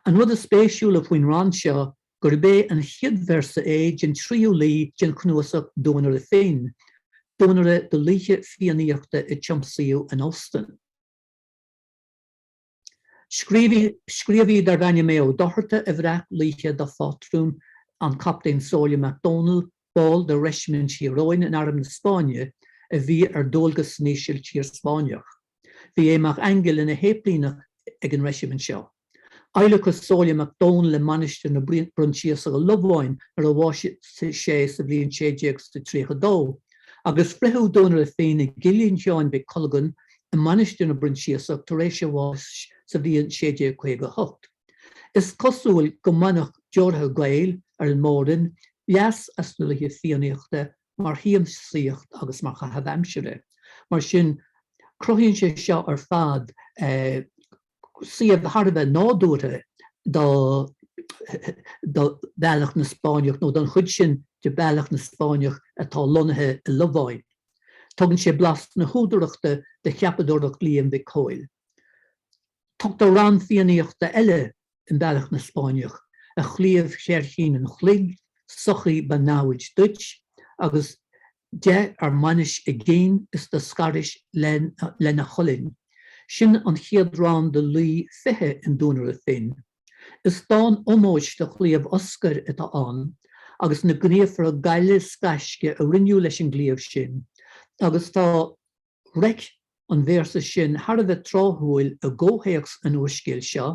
An rud is spéisiúla faoin rann seo gurb é an chéad véarsa é den tríú laoi den chnuasach Duanaire Finn, duanaire de laoithe Fiannaíochta a tiomsaíodh in Oostende. Scríobhaí darbh ainm Aodh Ó Dochartaigh a bhreac laoithe dá phátrún an Captaen Somhairle Mac Domhnaill, ball de Reisimint Thír Eoghain in Arm na Spáinne a bhí ar dualgas san Ísiltír Spáinneach. Bhí Aodh Mac Aingil ina shéiplíneach ag an reisimint seo. Adhlacadh Somhairle Mac Domhnaill i Mainistir na bProinsiasach i Lobháin nuair a bhásaigh sé sa bhliain 1632, agus fritheadh Duanaire Finn i gcillín Sheáin Mhic Colgan i Mainistir na bProinsiasach tar éis a bháis sa bhliain 1658. Is cosúil go mbaineadh deoraithe Gael ar an Mór-Roinn leas as na laoithe Fiannaíochta mar shiamsaíocht agus mar chaitheamh aimsire, mar sin cruthaíonn sé seo ar fad suíomh thar a bheith nádúrtha do Bealach na Spáinneach nó don chuid sin de Bealach na Spáinneach atá lonnaithe i Lobháin. Tugann sé blas na húdarachta do cheapadóireacht Liam Mhic Cóil. Tugtar rann Fiannaíochta eile in Bealach na Spáinneach, A chlaíomh chléirchín an chloig, sochaí ba namhaid duit, agus de ar mbainis a gcinn is do scarais lena cholainn. Sin an chéad rann de Laoi 20 in Duanaire Finn. Is dán ómóis do chlaíomh Oscair atá ann, agus na gníomhartha gaile 's gaisce a rinneadh leis an gclaíomh sin, agus tá. Reic an véarsa sin thar a bheith tráthúil i gcomhthéacs an úrscéil seo,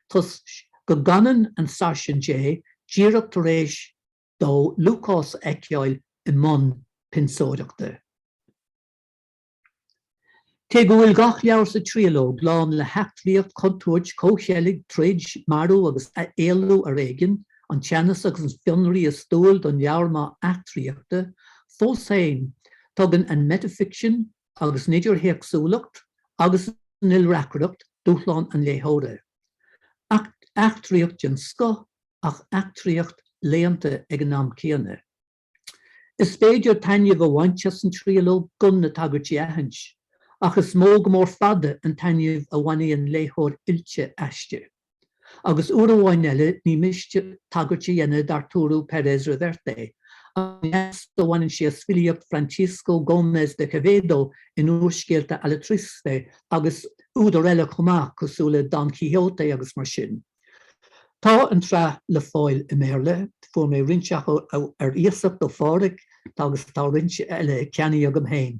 toisc go gcanann an Sáirsint é díreach tar éis dó Lúcás a fheiceáil i mbun pionsóireachta. Cé go bhfuil gach leabhar sa triológ lán le heachtraíocht, contúirt, comhcheilg, troid, marú agus éalú ar éigin, an teannas agus an fionraí is dual don leabhar maith eachtraíochta, fós féin, Tugann an meitificsean agus an idirthéacsúlacht agus an ilreacaireacht dúshlán an léitheora. Eachtraíocht den scoth ach eachtraíocht léannta ag an am céanna. Is féidir taitneamh a bhaint as an triológ gan na tagairtí a aithint, ach is mó go mór fada an taitneamh a bhainfidh an léitheoir oilte aisti. agus uair amháin eile ní miste tagairt a dhéanamh d'Arturo Pérez-Reverte, an leas a bhaineann sé as filíocht Francisco Gómez de Quevedo in úrscéalta Alatriste agus údair eile chomh maith, cosúil le Don Quixote agus mar sin. Tá an tsraith le fáil i mBéarla, fuair mé roinnt acu ar iasacht ó Phádhraic, agus tá roinnt eile ceannaithe agam féin.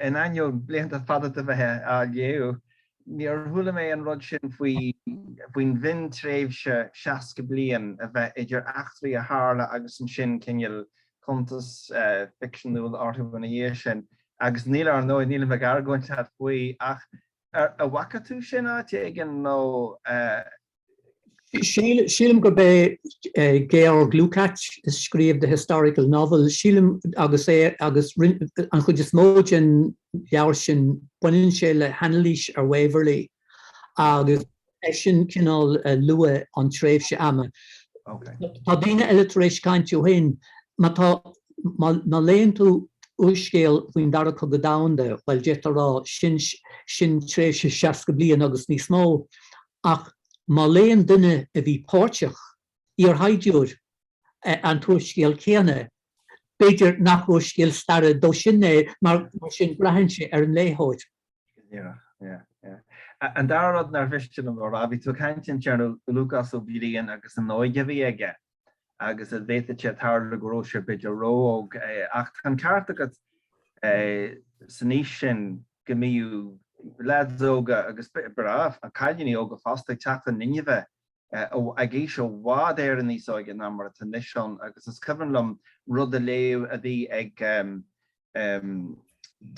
In ainneoin blianta fada de bheith á léamh, níor chuala mé an rud sin faoin mhion-tréimhse 60 bliain a bheith idir eachtraí a tharla agus ansin cineál cuntas ficseanúil orthu ina dhiaidh sin. Agus níl, ar ndóigh, nílim ag argóint faoi, ach An bhfaca tú sin áit éigin nó? Sílim gurb é Georg Lukacs a scríobh The Historical Novel, sílim, agus é, agus an chuid is mó den leabhar sin baineann sé le hanailís ar Waverley agus É sin cineál luath an tréimhse ama. Tá daoine eile tar éis caint ó shin. Má, má léann tú úrscéal faoin Dara Cogadh Domhanda, bhuel, d'fhéadfá a rá, sin, sin tréimhse seasca bliain agus níos mó. Ach má léann duine a bhí páirteach iarshaighdiúir an t-úrscéal céanna. B'fhéidir nach úrscéal staire dó sin é, mar sin braitheann sé ar an léitheoir. Go díreach, yeah. An dara rud nár mhiste liom a rá, bhí tú ag caint ansin ar Lúcás Ó Briain agus an óige a bhí aige agus a bhféadfadh sé tarlú go raibh sé b'fhéidir ró-óg, ach tá an ceart agat san aois sin go mbíodh leaids óga agus b'fhéidir cailíní óga fosta ag teacht in inmhe. ag aois i bhfad Éireann níos óige ná mar atá anois inniu agus is cuimhin liom rud a léamh a bhí ag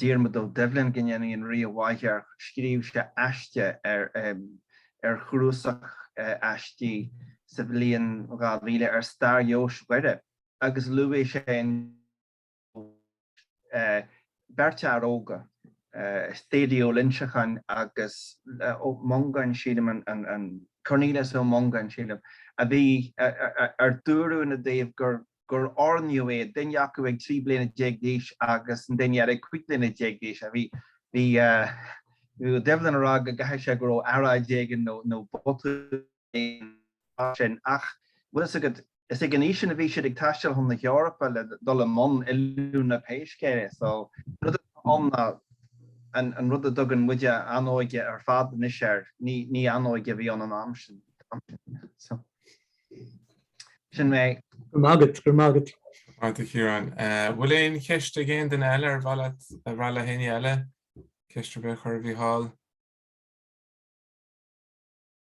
Diarmaid Ó Doibhlin go ndéana an Rí a mhaith air, scríobh sé aiste ar ar chnuasach aistí sa bhliain 2000 ar stair Dheoise Dhoire agus luaigh sé an. beirt fhear óga, Thady Ó Loinseacháin agus Ó Mongáin sílim, Cornelius Ó Mongáin sílim, a bhí ar dúradh ina dtaobh gur oirníodh iad, duine acu ag 13 bliana d'aois agus an duine eile ag 15 bliana d'aois. Bhí Ó Doibhlin ag rá go gcaithfidh sé go raibh earráid éigin nó botún. mar sin, ach bhfuil fhios agat, is ag an aois sin a bhí siad ag taisteal chun na hEorpa le dul i mbun oiliúna pé scéal é, so an rud atá ann ná an rud a dtugann muide An Óige ar fad anois air, ní An Óige a bhí ann an am sin, so sin mé. Go raibh maith agat, go raibh maith agat. Maith agat a Chiaráin. Bhfuil aon cheist ag aon duine eile ar mhaith leat a nó ag éinne eile, ceist ar bith a chur ar Mhícheál?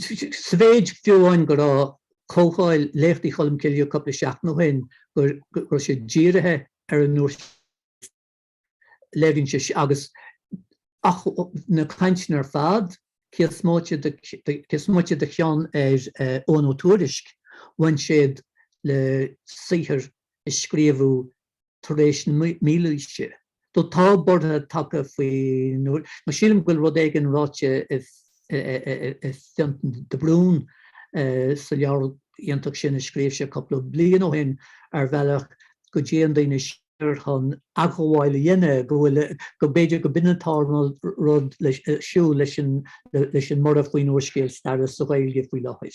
sa mhéid fiú amháin go raibh comhdháil Léachtaí Cholm Cille cúpla seachtain ó shin go raibh sé dírithe ar an úrscéal léiríonn sé sin agus ach na cainteanna ar fad cé is moite de cé is moite de cheann ar Eoghan Ó Tuairisc bhain siad le saothar a scríobhadh tar éis na mílaoise. Do tá borradh tagtha faoi nuair ná sílim go bhfuil rud éigin ráite ag Fionntán de Brún sa leabhar iontach sin a scríobh sé cúpla bliain ó shin ar bhealach go dtéann daoine siar chun athghabháil a dhéanamh go bhfuil go b'fhéidir gurb in atá an rud ar siúl leis an mborradh faoin úrscéal staire sa Ghaeilge faoi láthair.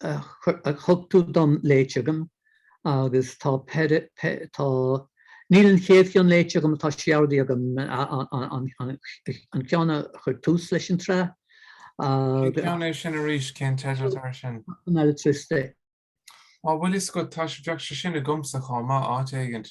thug tú dom léite agam agus tá tá níl an chéad cheann léite agam tá sé ordaithe agam an ceann a chuir tús leis an tsraith agus. Cén ceann é sin arís? Cén teideal atá air sin? Alatriste. Á bhuel is go tá sé bheadh sé sin agamsa chomh maith áit éigint.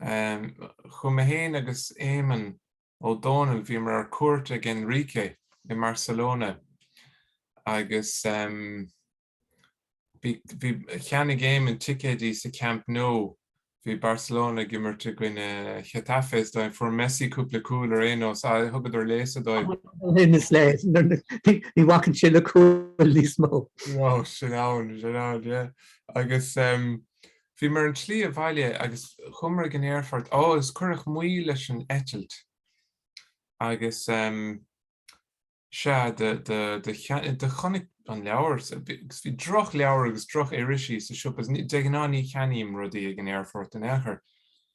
Chuaigh mé fhéin agus Éamonn Ó Dónaill bhíomar ar cuairt ag Enrique i mBarcelona agus bhí, cheannaigh Éamonn ticéidí sa Camp Nou, bhí Barcelona ag imirt i gcoinne Getafe is dóigh, fuair Messi cúpla cúl ar aon nós, aye, thugadar léasadh dóibh. Sin is léir, ní bhacann sé le cúl níos mó. Bhuel, sin ann, sin ann, yeah. Agus, Bhí mé ar an tslí abhaile agus chuamar ag an aerfort. Ó agus cuireadh moill ar an eitilt agus em sea do do do cheann do chonaic an leabhar agus bhí droch leabhar agus droch irisí sa siopa. De ghnáth ní cheannaím rudaí ag an aerfort in aon chor.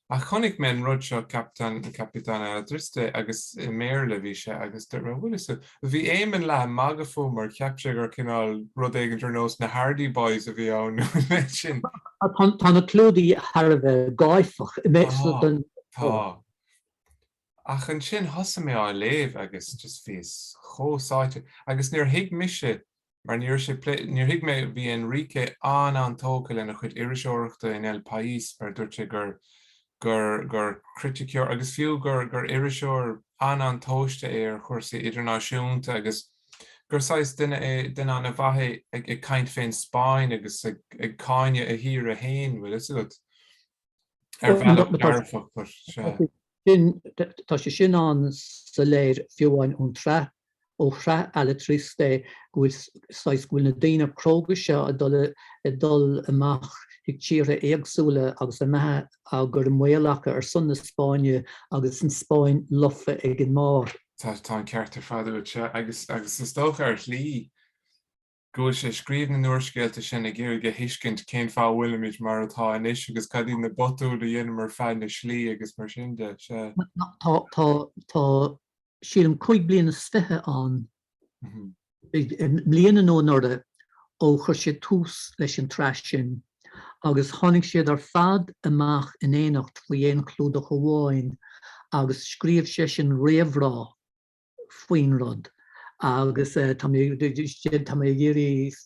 Ach chonaic mé an rud seo Capitán, Capitán Alatriste agus i mBéarla a bhí sé agus dúirt mé 'bhfuil 'fhios a'd, bhí Éamonn leath ag magadh fúm mar cheap sé gur cineál rud éigint ar nós na Hardy Boys a bhí ann nó an méid sin. Tá na clúdaigh thar a bheith gáifeach. Tá, tá. Ach ansin thosaigh mé á léamh agus just bhíos chomh sáite agus níor thuig mise mar ní raibh sé pléite, níor thuig mé, bhí Enrique an-an-tógtha lena chuid iriseoireachta in El País mar dúirt sé gur, gur, gur criticeoir agus fiú gur, gur iriseoir an-an-tomhaiste é ar chúrsaí idirnáisiúnta agus gur saghas duine é, duine an-mhaith é ag caint fén Spáinn agus ag, ag cáineadh a thíre fhéin, bhfuil fhios agat. Ar bhealach dearfach tá sé. Tá sé sin ann soiléir fiú amháin ón tsraith, ó shraith Alatriste, go bhfuil saghas, go bhfuil na daoine cróga seo ag dul, ag dul amach chuig tíortha éagsúla agus a mbeatha á gcur i mbaol acu ar son na Spáinne agus an Spáinn lofa ag an mbarr. Tá, tá an ceart ar fad ansin agus, agus is dócha ar shlí. go bhfuil sé ag scríobh na n-úrscéalta sin ag iarraidh a thuiscint cén fáth a bhfuilimid mar atá anois agus cad iad na botúin a dheineamar feadh na slí agus mar sin de. Sea. Tá, tá, tá sílim cúig bliain is fiche ann, mbliana nó anuraidh ó chuir sé tús leis an tsraith sin agus tháinig siad ar fad amach in éineacht faoi aon chlúdach amháin agus scríobh seisean réamhrá, faoin rud agus tá mé tá mé ag iarraidh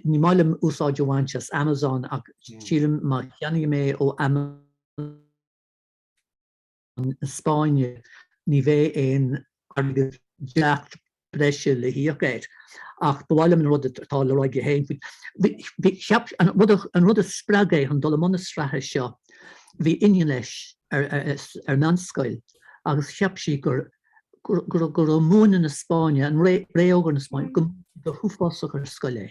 ní maith liom úsáid a bhaint as Amazon ach sílim má cheannaím é ó Amazon na Spáinne ní bheidh aon airgead breise le híoc air ach ba mhaith liom an rud atá le rá aige féin faoi. Bhí cheap an rud a- an rud a spreag é chun dul i mbun na sraithe seo, bhí iníon leis ar ar meánscoil agus cheap sí gur go raibh múineadh na Spáinne, an ré- Ré Órga na Spáinne, go go huafásach ar scoil é.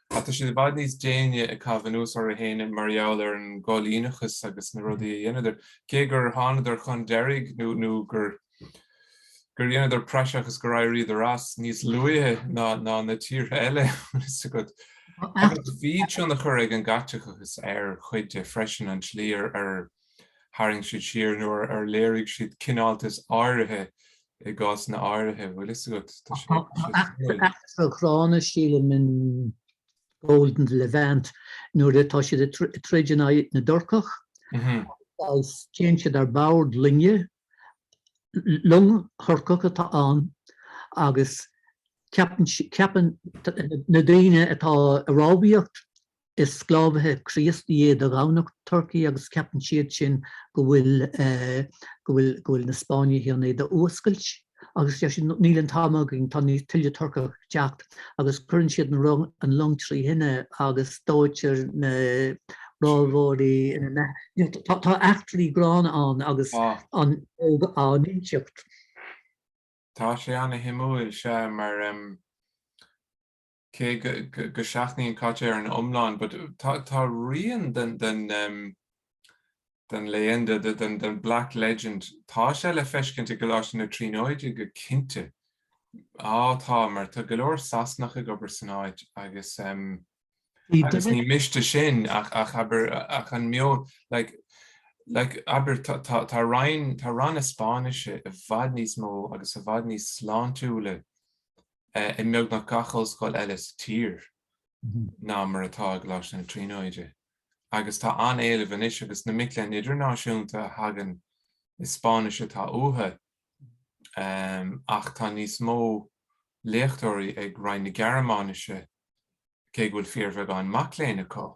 Ach tá siad i bhfad níos déine ag caitheamh anuas orthu fhéin mar gheall ar an gcoilíneachas agus na rudaí a dheineadar, cé gur thánadar chun deiridh nó gur dheineadar praiseach is gur éiríodar as, níos luaithe ná na tíortha eile, an bhfuil fhios agat. Bhí tionchar ag an gCaitliceachas ar chuid de freisin, an tslí ar. Tharraing siad siar nó ar léirigh siad cineáltas áirithe i gcásanna áirithe. Bhfuil a fhios agat, tá sé suimiúil. Tá eachtra ghránna sílim in Gold in the Levant nuair atá siad ag troid in aghaidh na dTurcach agus téann siad ar bord loinge, long Thurcach atá ann agus ceapann na daoine atá ag rámhaíocht Is sclábhaithe Críostaí iad a ghabh na Turcaigh agus ceapann siad sin go bhfuil, go bhfuil, go bhfuil na Spáinnigh chun iad a fhuascailt. Agus deir siad, níl an t-am againn, tá níos tuilleadh Turcach ag teacht. Agus cuireann siad an rung, an long trí thine agus dóitear na rámhóirí ina mbeatha. Tá, tá eachtraí gránna ann agus Tá. an óg á n-inseacht. Tá sé ana shuimiúil, sea, mar, cé go seachnaíonn Caite ar an iomlán, but tá rian den leyenda, den black legend, tá sé le feiscint i gColáiste na Tríonóide go cinnte. Á tá, mar tá go leor Sasanach ag obair san áit agus agus ní miste sin ach abair ach an meon, like like abair tá tá tá roinn tá ranna Spáinnise i bhfad níos mó agus i bhfad níos sláintiúla i mbeagnach gach ollscoil eile sa tír ná mar atá i gColáiste na Tríonóide, agus tá an-éileamh anois agus na mic léinn idirnáisiúnta a thagann, is Spáinnis atá uathu. Ach tá níos mó léachtóirí ag Roinn na Gearmáinise, cé go bhfuil fíorbheagán mac léinn acu.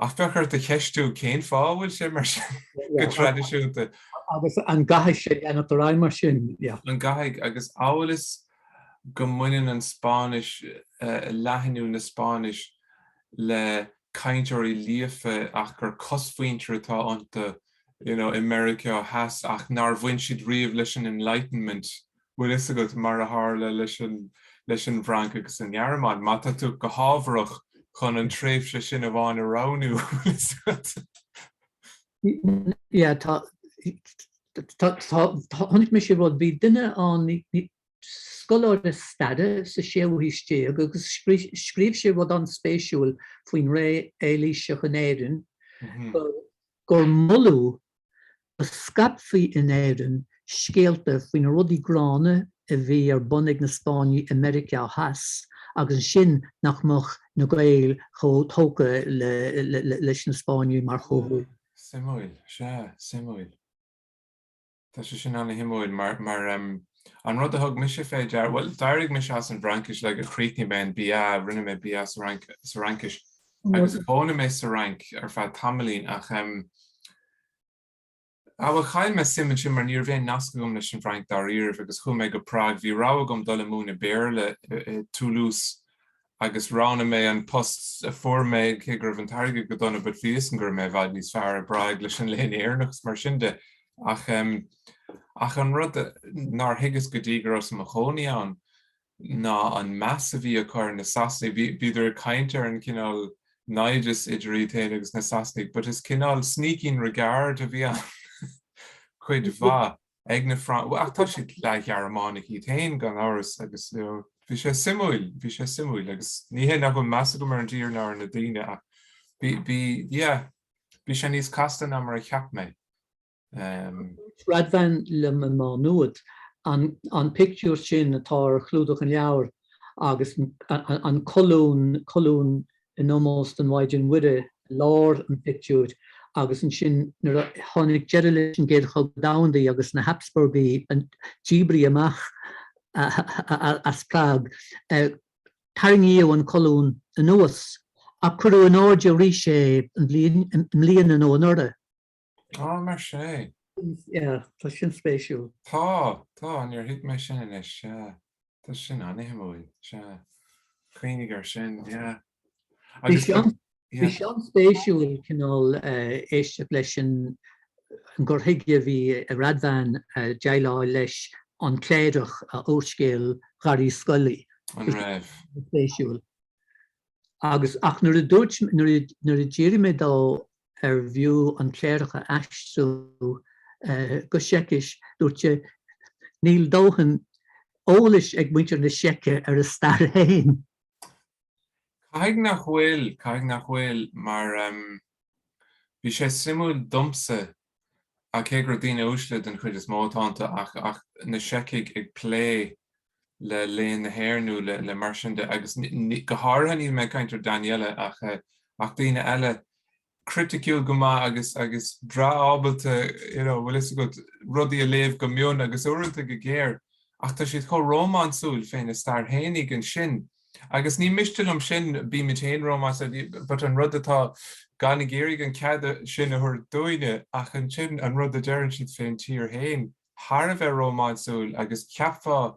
Ach bheadh ort a cheistiú cén fáth a bhfuil sé mar sin go traidisiúnta. Agus an gcaithfidh sé leanacht ar aghaidh mar sin? An gcaithfidh? Agus amhail is go mbaineann an Spáinnis, leathnú na Spáinnise, le cainteoirí líofa ach gur cosmhuintir atá iontu, you know, i Meiriceá Theas ach nár bhain siad riamh leis an Enlightenment bhfuil fhios agat, mar a tharla leis an bhFrainc agus an Ghearmáin, má tá tú go hábharach chun an tréimhse sin amháin a roghnú, bhfuil fhios agat. Yeah, tá, tá, tá, chonaic mise rud, bhí duine ann, scoláire staire sa séú haois déag agus scríobh sé rud an-spéisiúil faoin ré Eilíseach in Éirinn, gur moladh go scaipfí in Éirinn scéalta faoi na rudaí gránna a bhí ar bun ag na Spáinnigh i Meiriceá Theas agus ansin nach mbeadh na Gaeil chomh tógtha leis na Spáinnigh mar chomhghuaillithe. Suimiúil, sea, suimiúil. Tá sé sin an-shuimiúil mar, mar, an rud a thug mise fé deara, bhuel, d'éirigh mise as an bhFraincis, like, chríochnaigh mé an BA, rinne mé BA sa Fhraincis, agus chónaigh mé sa Fhrainc ar feadh tamaillín, ach, em, ah, bhuel, chaill mé suim ansin mar ní raibh aon nasc agam leis an bhFrainc dáiríribh, agus chuaigh mé go Prague, bhí rogha agam dul ag múineadh Béarla i, i, Toulouse, agus roghnaigh mé an post a fuair mé cé go raibh an t-airgead go dona but bhí 'fhios agam go raibh mé i bhfad níos fearr i bPrague leis an Léann Éireannach is mar sin de ach em ach an rud nár thuigeas go dtí go rabhas i mo chónaí ann ná an meas a bhí acu ar na Sasnaigh bhíodar ag caint ar an cineál naimhdeas idir iad féin agus na Sasnaigh but is cineál sneaking regard a bhí ann cuid mhaith ag na Francaigh, ach tá siad leath-Ghearmánaigh iad féin gan amhras agus bhí sé suimiúil, bhí sé suimiúil agus ní hé nach bhfuil meas agam ar an dtír ná ar na daoine ach bhí, yeah, bhí sé níos casta ná mar a cheap mé. Dúirt Radvan liom i Má Nuad an pictiúr sin atá ar chlúdach an leabhair agus an colún in ómós don Mhaighdean Mhuire i lár an phictiúir agus ansin nuair a tháinig deireadh leis an gCéad Chogadh Domhanda agus na Hapsburgaigh a díbrigh amach as Prague tarraingíodh an colún anuas ach cuireadh in airde arís é an bhliain nó anuraidh. Á mar sé. Yeah, tá sin spéisiúil. Tá, tá, níor thuig mé sin anois, yeah. Tá sin an-shuimiúil, yeah. Cuimhnigh air sin, yeah. Bhí sé an, bhí sé an-spéisiúil cineál éisteacht leis an an gcur chuige a bhí ag Radvan déileáil leis An Cléireach a úrscéal Dharach Uí Scolaí. An raibh? Spéisiúil. Agus ach nuair a dúirt, nuair a, nuair a d'fhiafraigh mé dó arbh fhiú An Cléireach a aistriú go Seicis, dúirt sé, Níl dóthain eolais ag muintir na Seice ar a stair féin. Caithfidh nach bhfuil, caithfidh nach bhfuil, mar bhí sé suimiúil domsa, cé gur daoine uaisle den chuid is mó atá iontu, ach na Seicigh ag plé le léann na hÉireann nó le mar sin de agus go háirithe níl mé ag caint ar Daniela ach ach daoine eile criticiúil go maith agus agus breá ábalta you know bhfuil fhios agat rudaí a léamh go mion agus uaireanta go géar ach tá siad chomh rómánsúil féna stair féinig ansin agus ní miste liom sin bímid féin rómánsúil but an rud atá gan ag iarraidh an cead sin a thabhairt dúinne ach ansin an rud a deireann siad fén tír féin thar a bheith rómánsúil agus cheapfá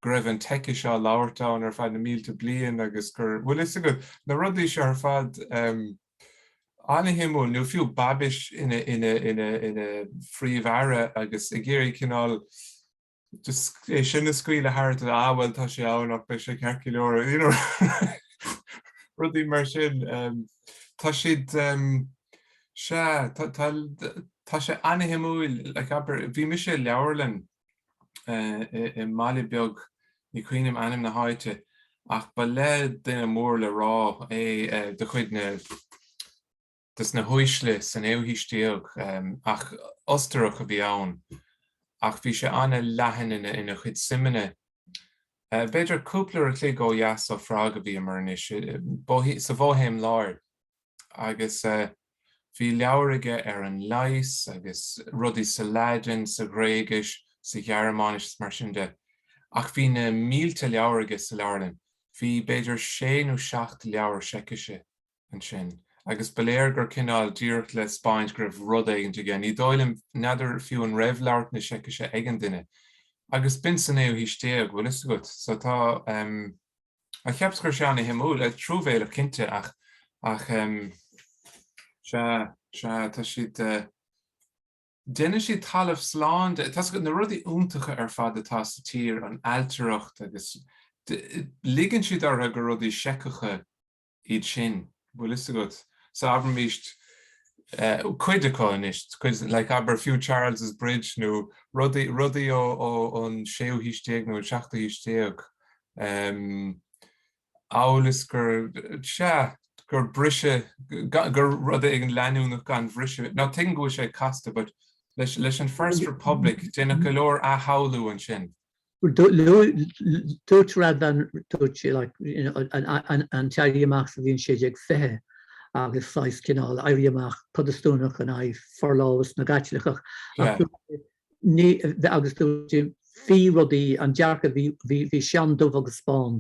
go raibh an tSeicis á labhairt ann ar feadh na mílte bliain agus gur, bhfuil a fhios agat, na rudaí seo ar fad an-shuimiúil nó fiú Babiš ina Phríomh-Aire agus ag iarraidh cineál é sin a scaoileadh tharat, ah bhuel tá sé ann ach beidh sé ceart go leor, you know rudaí mar sin. Tá siad. Sea, tá sé an-shuimiúil. Like, abair, bhí mise i leabharlann i mbaile beag, ní cuimhin liom ainm na háite, ach ba le duine mór le rá é de chuid na, de sna huaisle sa naoú haois déag, ach Ostarach a bhí ann, ach bhí sé an-leathan ina chuid suimeanna. B'fhéidir cúpla uair a chloig ó dheas ó Phrág a bhíomar anois, sa Bhoihéim Láir. agus bhí leabhair aige ar an leigheas agus rudaí sa Laidin, sa Ghréigis, sa Ghearmáinis is mar sin de. Ach bhí na mílte leabhar aige sa leabharlann, bhí b'fhéidir sé nó seacht leabhair Seicise ansin. Agus ba léir gur cineál, díreach le 'spáint go raibh rud éigint aige. Ní dóigh liom, n'fheadar fiú an raibh labhairt na Seicise ag an duine. Agus b'in sa naoú haois déag, bhfuil fhios agat. So tá. Á cheapas go raibh sé an-shuimiúil, truamhéileach cinnte ach ach sea sea tá siad deineann siad talamh slán de, tá na rudaí iontacha ar fad atá sa tír, an ailtireacht agus ligeann siad orthu gur rudaí Seiceacha iad sin, bhfuil fhios agat. So abraimis cuid acu anois, cuid, like abair fiú Charles's Bridge nó rudaí, rudaí ón séú haois déag nó an seachtú haois déag, em, amhail is gur, sea, gur briseadh, gur rud éigin leanúnach gan bhriseadh, now tuigim go bhfuil sé casta but leis, leis an First Republic deineadh go leor athshamhlú ansin. Dúirt Radvan, dúirt sé like you know an an t-éirí amach sa bhliain 1620 agus saghas cineál éirí amach Protastúnach in aghaidh forlámhas na gCaitliceach ach dúirt sé ní agus dúirt sé bhí rudaí an dearcadh bhí bhí bhí sé an-dubh agus bán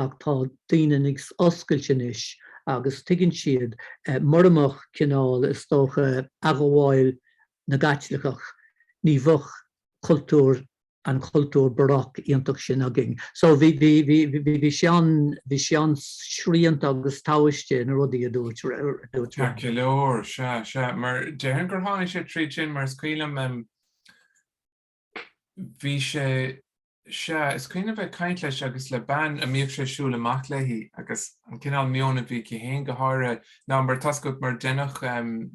ach tá daoine ag oscailt anois agus tuigeann siad murach cineál is dócha athghabháil na gCaitliceach ní bheadh cultúr, an cultúr Baroque iontach sin againn. So bhí bhí bhí bhí bhí sé an bhí sé an-srianta agus tomhaiste na rudaí a dúirt dúirt. Ceart go leor, sea, sea, mar déarfainn gur tháinig sé tríd sin mar is cuimhin liom em bhí sé sea is cuimhin liom a bheith caint leis agus le bean a mbíodh sé ag siúl amach léi agus an cineál meon a bhí aici féin go háirithe ná mar tascailt mar déanach um,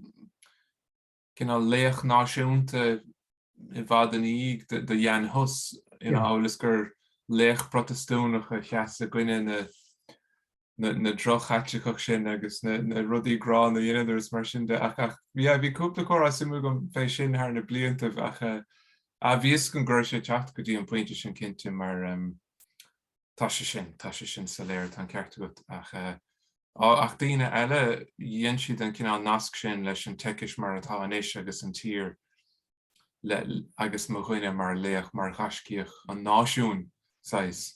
cineál laoch náisiúnta i bhfad ina dhiaidh de Jan Hus, amhail is gur laoch Protastúnach a sheas i gcoinne na droch-Chaitliceach sin agus na rudaí gránna a dheineadar is mar sin de. Ach bhí cúpla comhrá suimiúil agam fé sin thar na bliantaibh ach bhí fhios agam go raibh sé ag teacht go dtí an pointe sin cinnte mar Tá sé sin, tá sé sin soiléir, tá an ceart agat, ach ach daoine eile, dhein siad an cineál nasc sin leis an tSeicis mar atá anois agus an tír agus mo dhuine mar laoch, mar ghaiscíoch an náisiúin, saghas.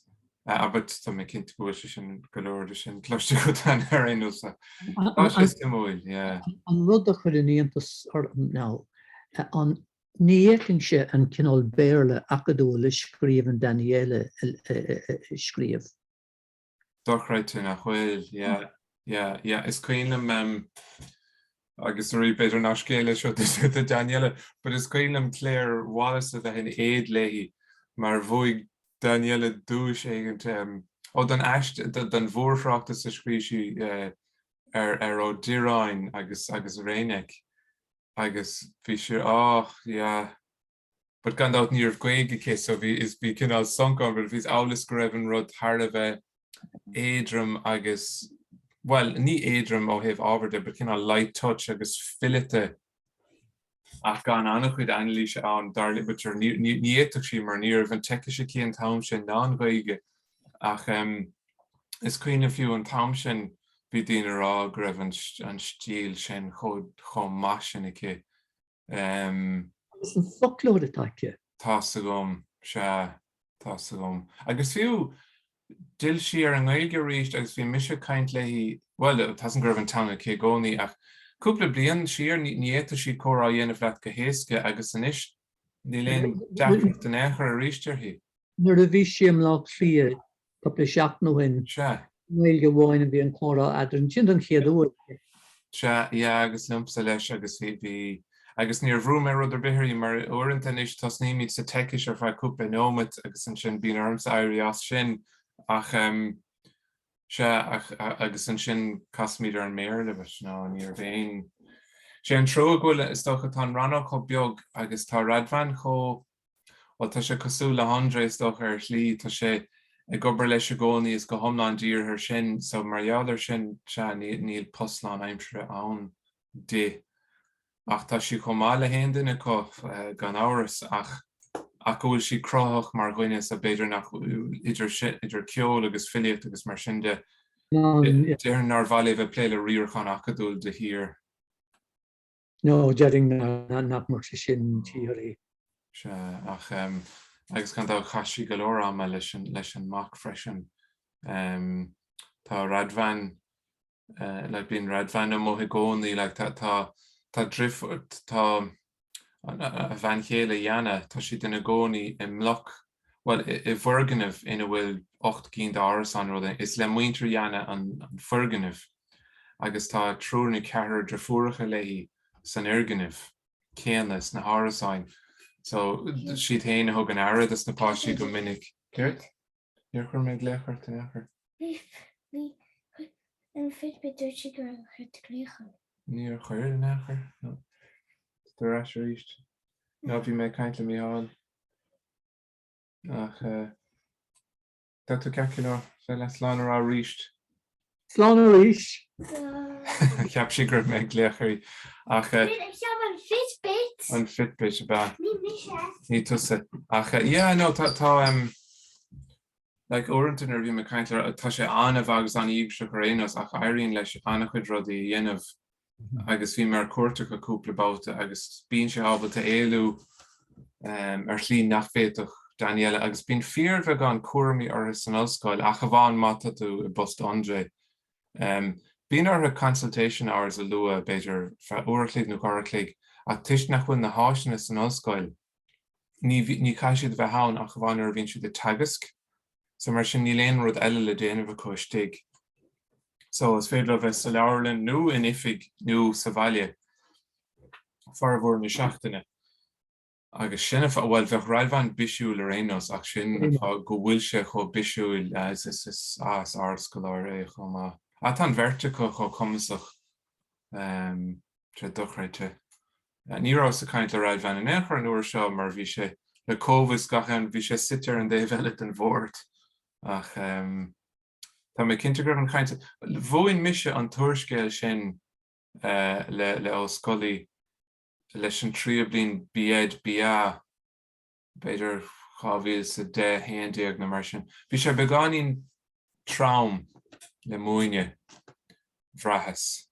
Abair, tá mé cinnte go bhfuil sé sin, go leor de sin cloiste agat an ar aon nós, tá sé suimiúil, yeah. An rud a chuireann iontas orm now, an ní shroicheann sé an cineál Béarla acadúil a scríobhann Daniele a scríobh. Dochreidte nach bhfuil, yeah, yeah, yeah. Is cuimhin liom, em, agus arís, b'fhéidir nach scéal é seo do Daniele, but is cuimhin liom Claire Wallace a bheith in éad léi mar bhuaigh Daniele duais éigint, em, ó, don aist, don mhórthráchtas a scríobh sí ar Ó Direáin agus Reynek. agus bhí sé oh yeah but gan dabht ní raibh Gaeilge aici so bhí is bhí cineál sonc ann but bhí is amhlaidh go raibh an rud thar a bheith éadrom agus bhuel ní éadrom ó thaobh ábhair de but cineál light touch agus fileata ach gan an-chuid anailíse ann dar léi but sure ní fhéadfadh sí mar ní raibh an tSeicis aici an t-am sin ná an Ghaeilge ach is cuimhin fiú an t-am sin bhí daoine a rá go raibh an stíl sin chomh maith sin aici. Is an foclóir atá aici. Tá a fhios agam, sea, tá a fhios agam. Agus fiú, d'fhill sí ar an nGaeilge arís agus bhí mise ag caint léi, bhuel, tá a fhios agam go raibh an teanga aici i gcónaí ach cúpla bliain siar ní fhéadfadh sí comhrá a dhéanamh leat go héasca agus anois Níl aon deacracht in aon chor arís uirthi. Nuair a bhí sí i mBaile Átha Cliath cúpla seachtain ó shin, Gaeilge amháin a bhí an comhrá eadrainn. Sin don chéad uair. Sea, yeah agus liomsa leis agus bhí, bhí, agus níor bhrú mé rud ar bith uirthi mar uaireanta anois tosnaímid sa tSeicis ar feadh cúpla nóiméad agus ansin bíonn ormsa éirí as sin ach ehm, Sea, ach agus ansin casaimid ar an mBéarla, but no, níorbh é. Sé an trua go bhfuil, is dócha, tá an rannóg chomh beag agus tá Radvan chomh, bhuel, tá sé cosúil le hAndré, is dócha, ar shlí, tá sé ag obair leis i gcónaí is go hiomlán dírithe air sin, so mar gheall air sin, sea, níl post lánaimseartha ann di. Ach tá sí chomh maith le haon duine acu, gan amhras, ach ach go bhfuil sí cruthaitheach mar dhuine so b'fhéidir nach idir idir ceol agus filíocht agus mar sin de. Déarfainn nár mhaith léi bheith plé le riarachán acadúil de shíor. No, déarfainn nach mbeadh sé sin díreach. Sea, ach agus gan dabht chaith sí go leor ama leis an leis an mac freisin. Tá Radvan. like bíonn Radvan amuigh i gcónaí like tá tá tá drif tá a bhean chéile Jana tá siad ina gcónaí i mbloc bhuel i bhfoirgneamh ina bhfuil ocht gcinn d'árasán rud é is le muintir Jana an foirgneamh agus tá triúr nó ceathrar drifiúracha léi san fhoirgneamh céanna sna hárasáin so siad féin a thugann aire do sna páistí go minic. Céard? Níor chuir mé an glaoch ort in aon chor. Bhí an Fitbit dúirt sí gur chuir tú glaoch orm. Níor chuir in aon chor. Tá tú ar ais arís. No, bhí mé ag caint le Mícheál. Ach tá tú ceart, Cill Airne. Bheith le slán a rá arís. Slán arís! Cheap sí go raibh mé ag glaoch uirthi ach eh, Wait, it's on my Fitbit. an Fitbit ab ea. Ní tusa ach eh, yeah, no, tá tá, em, like, uaireanta nuair a bhím ag caint le tá sé an-mhaith agus an-íogair ar aon nós ach éiríonn leis ana-chuid rudaí a dhéanamh agus bhí mé ar cuairt acu cúpla babhta agus bíonn sé ábalta éalú ar shlí nach bhféadfadh Daniela agus bíonn fíorbheagán cúramaí orthu san ollscoil ach amháin má tá tú i bpost André. Bíonn orthu consultation hours a lua, b'fhéidir feadh uair a chloig nó dhá uair a chloig, ach toisc nach bhfuil na háiseanna san ollscoil, ní chaithfidh siad a bheith ann ach amháin nuair a bhíonn siad ag teagasc, so mar sin níl aon rud eile le déanamh acu istigh. So is féidir leo bheith sa leabharlann nó in oifig nó sa bhaile formhór na seachtaine. Agus sin, bhuel bheadh Radvan bisiúil ar aon nós ach sin an fáth go bhfuil sé chomh bisiúil, is is ardscoláire é chomh maith. Á, tá an bheirt acu chomh cumasach, tréith dochreidte. Ní rabhas ag caint le Radvan in aon chor an uair seo mar bhí sé le cóimheas gach am, bhí sé suite ar an dtaobh eile den bhord. Ach tá mé cinnte go raibh an chaint, mhúin mise an t-úrscéal sin le Ó Scolaí leis an tríú bliain B Ed BA, b'fhéidir 2010, 11 nó mar sin. Bhí sé beagáinín trom le múineadh bhraitheas.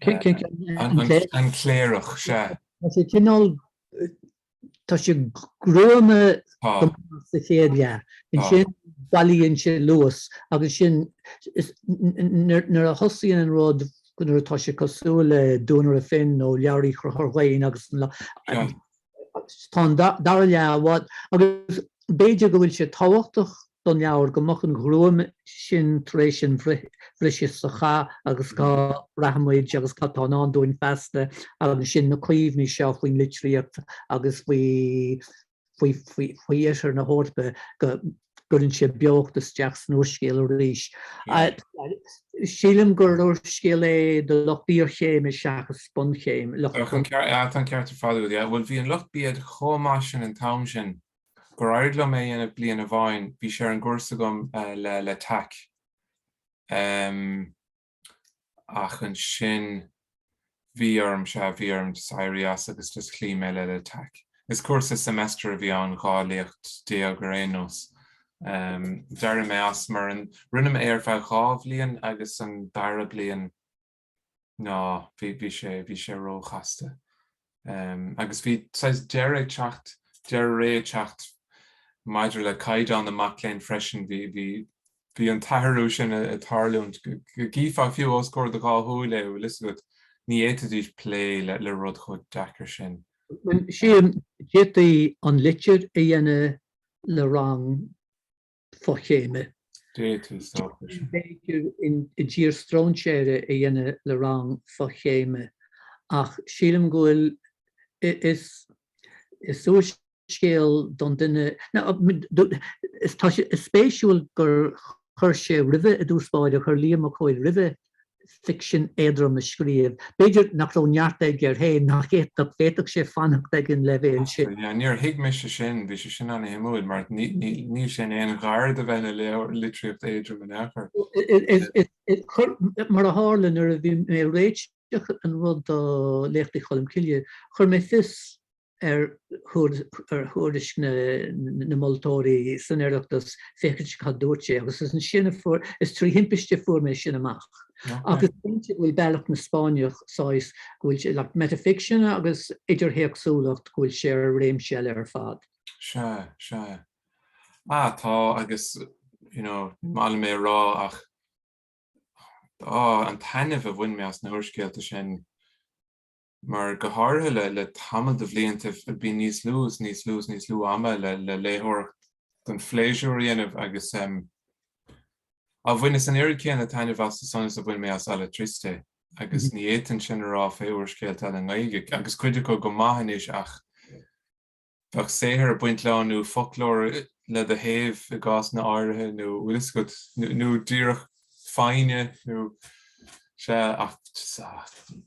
An Cléireach, sea. Tá sé cineál, tá sé gruama go maith sa chéad leath. Ansin bailíonn sé luas agus sin nuair a thosaíonn an rud nuair atá sé cosúil le Duanaire Finn nó Leabhar Uí Chonchúir Dhoinn agus an lá, tá an dara leath i bhfad agus b'fhéidir go bhfuil sé tábhachtach don leabhar go mbeadh an ghruaim sin tar éis an bhriseadh sa chath agus cá rachaimid agus cad tá i ndán dúinn feasta agus sin na cuimhní seo faoin litríocht agus faoi faoi faoi faoi oirthear na hEorpa go gcuireann sé beocht isteach san úrscéal arís. Sílim gur úrscéal é do lucht iarchéime seachas bunchéime. Tá an ceart ar fad agat. Bhuel, bhí an lucht B Ed chomh maith sin an t-am sin gur éirigh liom é a dhéanamh bliain amháin, bhí sé ar an gcúrsa agam L'Attaque. ach ansin bhí orm, sea, bhí orm just éirí as agus just chloígh mé le L'Attaque. Is cúrsa semester a bhí ann, 12 léacht ar aon nós. D'éirigh mé as mar an, rinne mé é ar feadh dhá bhliain agus an dara bliain, no, bhí sé, bhí sé róchasta. agus bhí saghas deireadh ag teacht, deireadh ré ag teacht maidir le caighdeán na mac léinn freisin. Bhí an t-athrú sin ag tarlúint go gcífeá fiú os comhair do dhá shúil é, bhfuil 'fhios agat, ní fhéadfaidís plé le rud chomh deacair sin. Sea, d'fhéadfaí An Litir a dhéanamh le rang. fochéime. D'fhéadfadh stopadh. B'fhéidir I dTír Strainséartha a dhéanamh le rang fochéime ach sílim go bhfuil, is úrscéal don duine, is spéisiúil gur chuir sé roimhe i dtús báire, chuir Liam Mac Cóil roimhe ficsean éadrom a scríobh. B'fhéidir nach raibh neart aige air féin, nach fhéadfadh, bhféadfadh sé fanacht ag an leibhéal sin. Níor thuig mise sin, bhí sé sin ana-shuimiúil mar níl sé in aon ghar do bheith ina litríocht éadrom in aon chor. Mar a tharla, nuair a bhí mé ag réiteach an rud do Léachtaí Cholm Cille, chuir mé fios. ar thuairisc na moltóirí san Oireachtas féachaint cad dúirt sé agus is ansin a fuair, is trí thimpiste a fuair mé sin amach. Agus go bhfuil Bealach na Spáinneach saghas go bhfuil sé le metafiction agus idirthéacsúlacht go bhfuil sé ar réimse eile ar fad. Sea, sea. Sea tá agus you know ní maith liom é a rá ach oh an taitneamh a bhain mé as na húrscéalta sin mar go háirithe le le tamall de bhlianta bíonn níos lú is níos lú is níos lú ama le le léitheoireacht don phléisiúr a dhéanamh agus em á bhaineas an oiread céanna taitneamh as san is a bhain mé as Alatriste agus ní fhéadfainn sin a rá fé úrscéalta eile i nGaeilge agus cuid acu go maith anois ach Bheadh saothar ag baint leo, nó foclóir le do thaobh i gcásanna áirithe, nó bhfuil fhios agat, nó díreach foighne, nó sea, ach,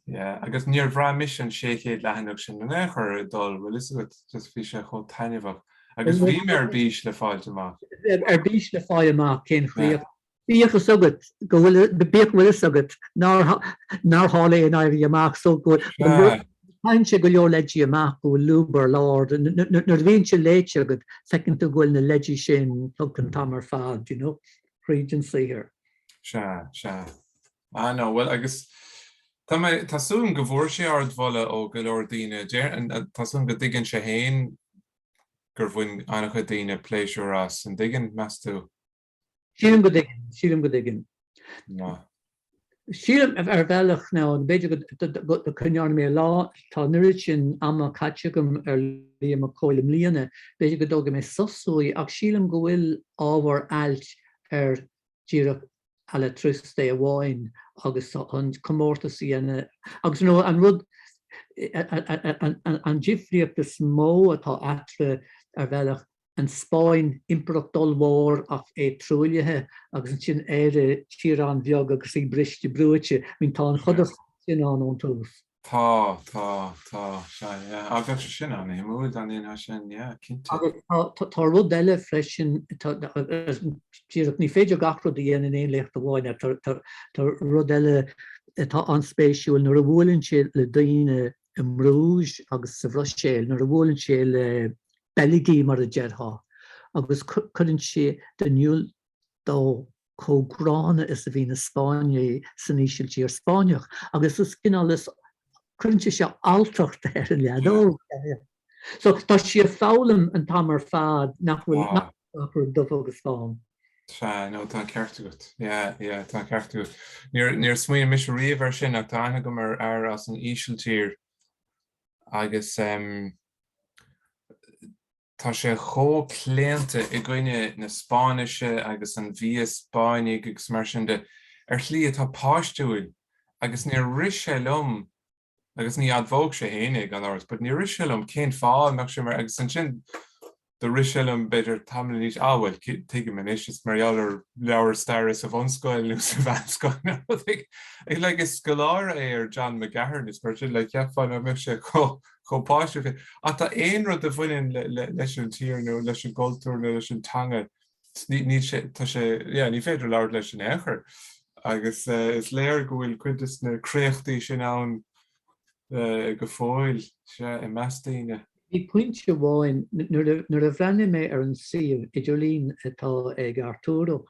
yeah, agus níor bhraith mise an 600 leathanach sin in aon chor ag dul, bhfuil fhios agat, just bhí sé chomh taitneamhach, agus bhí mé ar bís le fáilt amach. Ar bís le fáil amach cén chríoch. Yeah. Bíodh fhios agat go bhfuil, bíodh go bhfuil fhios agat nár, nár tharla aon éirí amach so go bhfuil, go bhfuil, caitheann sé go leor leidí amach go bhfuil lúb ar lár, nuair a bhíonn sé léite agat feiceann tú go bhfuil na leidí sin tugtha an t-am ar fad, you know, tríd an saothar. Sea, sea. I know, bhuel agus tá mé, tá súil agam go bhfuair sé ardmholadh ó go leor daoine, deir, tá súil agam go dtuigeann sé fhéin gur bhain an-chuid daoine pléisiúr as, an dtuigeann, meas tú? Sílim go dtuigeann, sílim go dtuigeann. Ná. Sílim ar bhealach ná b'fhéidir go ndéanfaidh mé lá, tá an oiread sin ama caite agam ar Liam Mac Cóil i mbliana, b'fhéidir go dtógfaidh mé sos uaidh ach sílim go bhfuil ábhar ailt ar díreach Alatriste amháin agus an comórtas a dhéanamh agus nó an rud an difríocht is mó atá eatarthu ar bhealach an Spáinn, impireacht ollmhór ach é truaillithe, agus ansin Éire, tír an-bheag agus í briste brúite. I mean, tá an chodarsnacht sin ann ón tús. Tá, tá, tá, sea, yeah. Agus sin an-shuimiúil, dar ndóigh, ná sin, yeah, cinnte. Agus tá rud eile freisin, díreach, ní féidir gach rud a dhéanamh in aon léacht amháin, ach tá rud eile atá an-spéisiúil, nuair a bhuaileann sé le daoine, i mBrúis agus sa Bhruiséil nuair a bhuaileann sé le Beilgigh mar a déarfá agus cuireann siad in iúl dó chomh gránna is a bhí na Spáinnigh san Ísiltír Spáinneach agus is cineál is cuireann sé seo alltacht ar an leaid óg. So tá sé ag foghlaim an t-am ar fad nach bhfuil Wow. nach bhfuil gach rud dubh agus bán. Sea, no, tá ceart agat. Yeah, yeah, tá ceart agat. Níor, níor smaoinigh mise riamh ar sin ach tá aithne agam ar fhear as an Ísiltír agus em, tá sé chomh claonta i gcoinne na Spáinnise agus an bhia Spáinnigh agus mar sin de ar shlí atá páistiúil agus níor rith sé liom agus ní admhódh sé fhéin é gan amhras, but níor rith sé liom cén fáth a mbeadh sé mar, agus ansin do rith sé liom b'fhéidir tamall ina dhiaidh, ah bhuel tuigim anois, is mar gheall ar leabhar staire sa bhunscoil nó sa mheánscoil nó rud éigin, like scoláire é ar John McGahern agus mar sin, like cheapfá ná mbeadh sé chomh páistiúil sin, ach tá aon rud a bhaineann leis an tír nó leis an gcultúr nó leis an teanga, yeah, ní féidir labhairt leis in aon chor agus uh, is léir go bhfuil cuid des na créachtaí sin ann uh, go fóill i measc daoine. Bhí pointe amháin nuair a bhreathnaigh mé ar an suíomh idirlín atá ag Arturo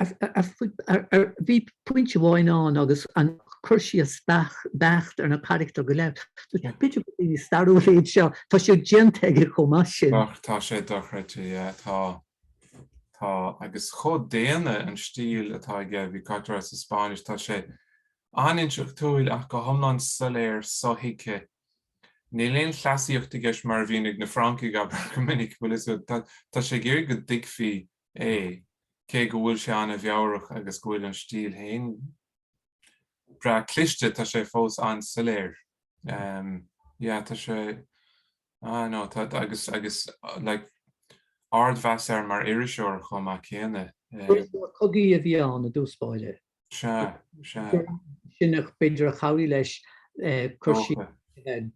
Bhí pointe amháin ann agus an cur síos beacht ar na carachtair go léir. B'fhéidir gur daoine stairiúla iad seo, tá sé déanta aige chomh maith sin. Tá sé dochreidte, yeah. Tá, agus chomh maith céanna an stíl atá aige, bíonn caint air sa Spáinn is tá sé an-intleachtúil ach go hiomlán soiléir, sothuigthe. Níl aon chleasaíocht aige is mar a bhíonn ag na Francaigh, abair, go minic, is dóigh tá sé ag iarraidh go dtuigfí é, cé go bhfuil sé an-mheabhrach agus go bhfuil an stíl féin breá cliste, tá sé fós an-soiléir. Yeah, tá sé ah, no, tá, agus, agus like, ardmheas air mar iriseoir chomh maith céanna. Cogaí a bhí ann i dtús báire. Sea, sea. Sin é b'fhéidir a chabhraigh leis cur síos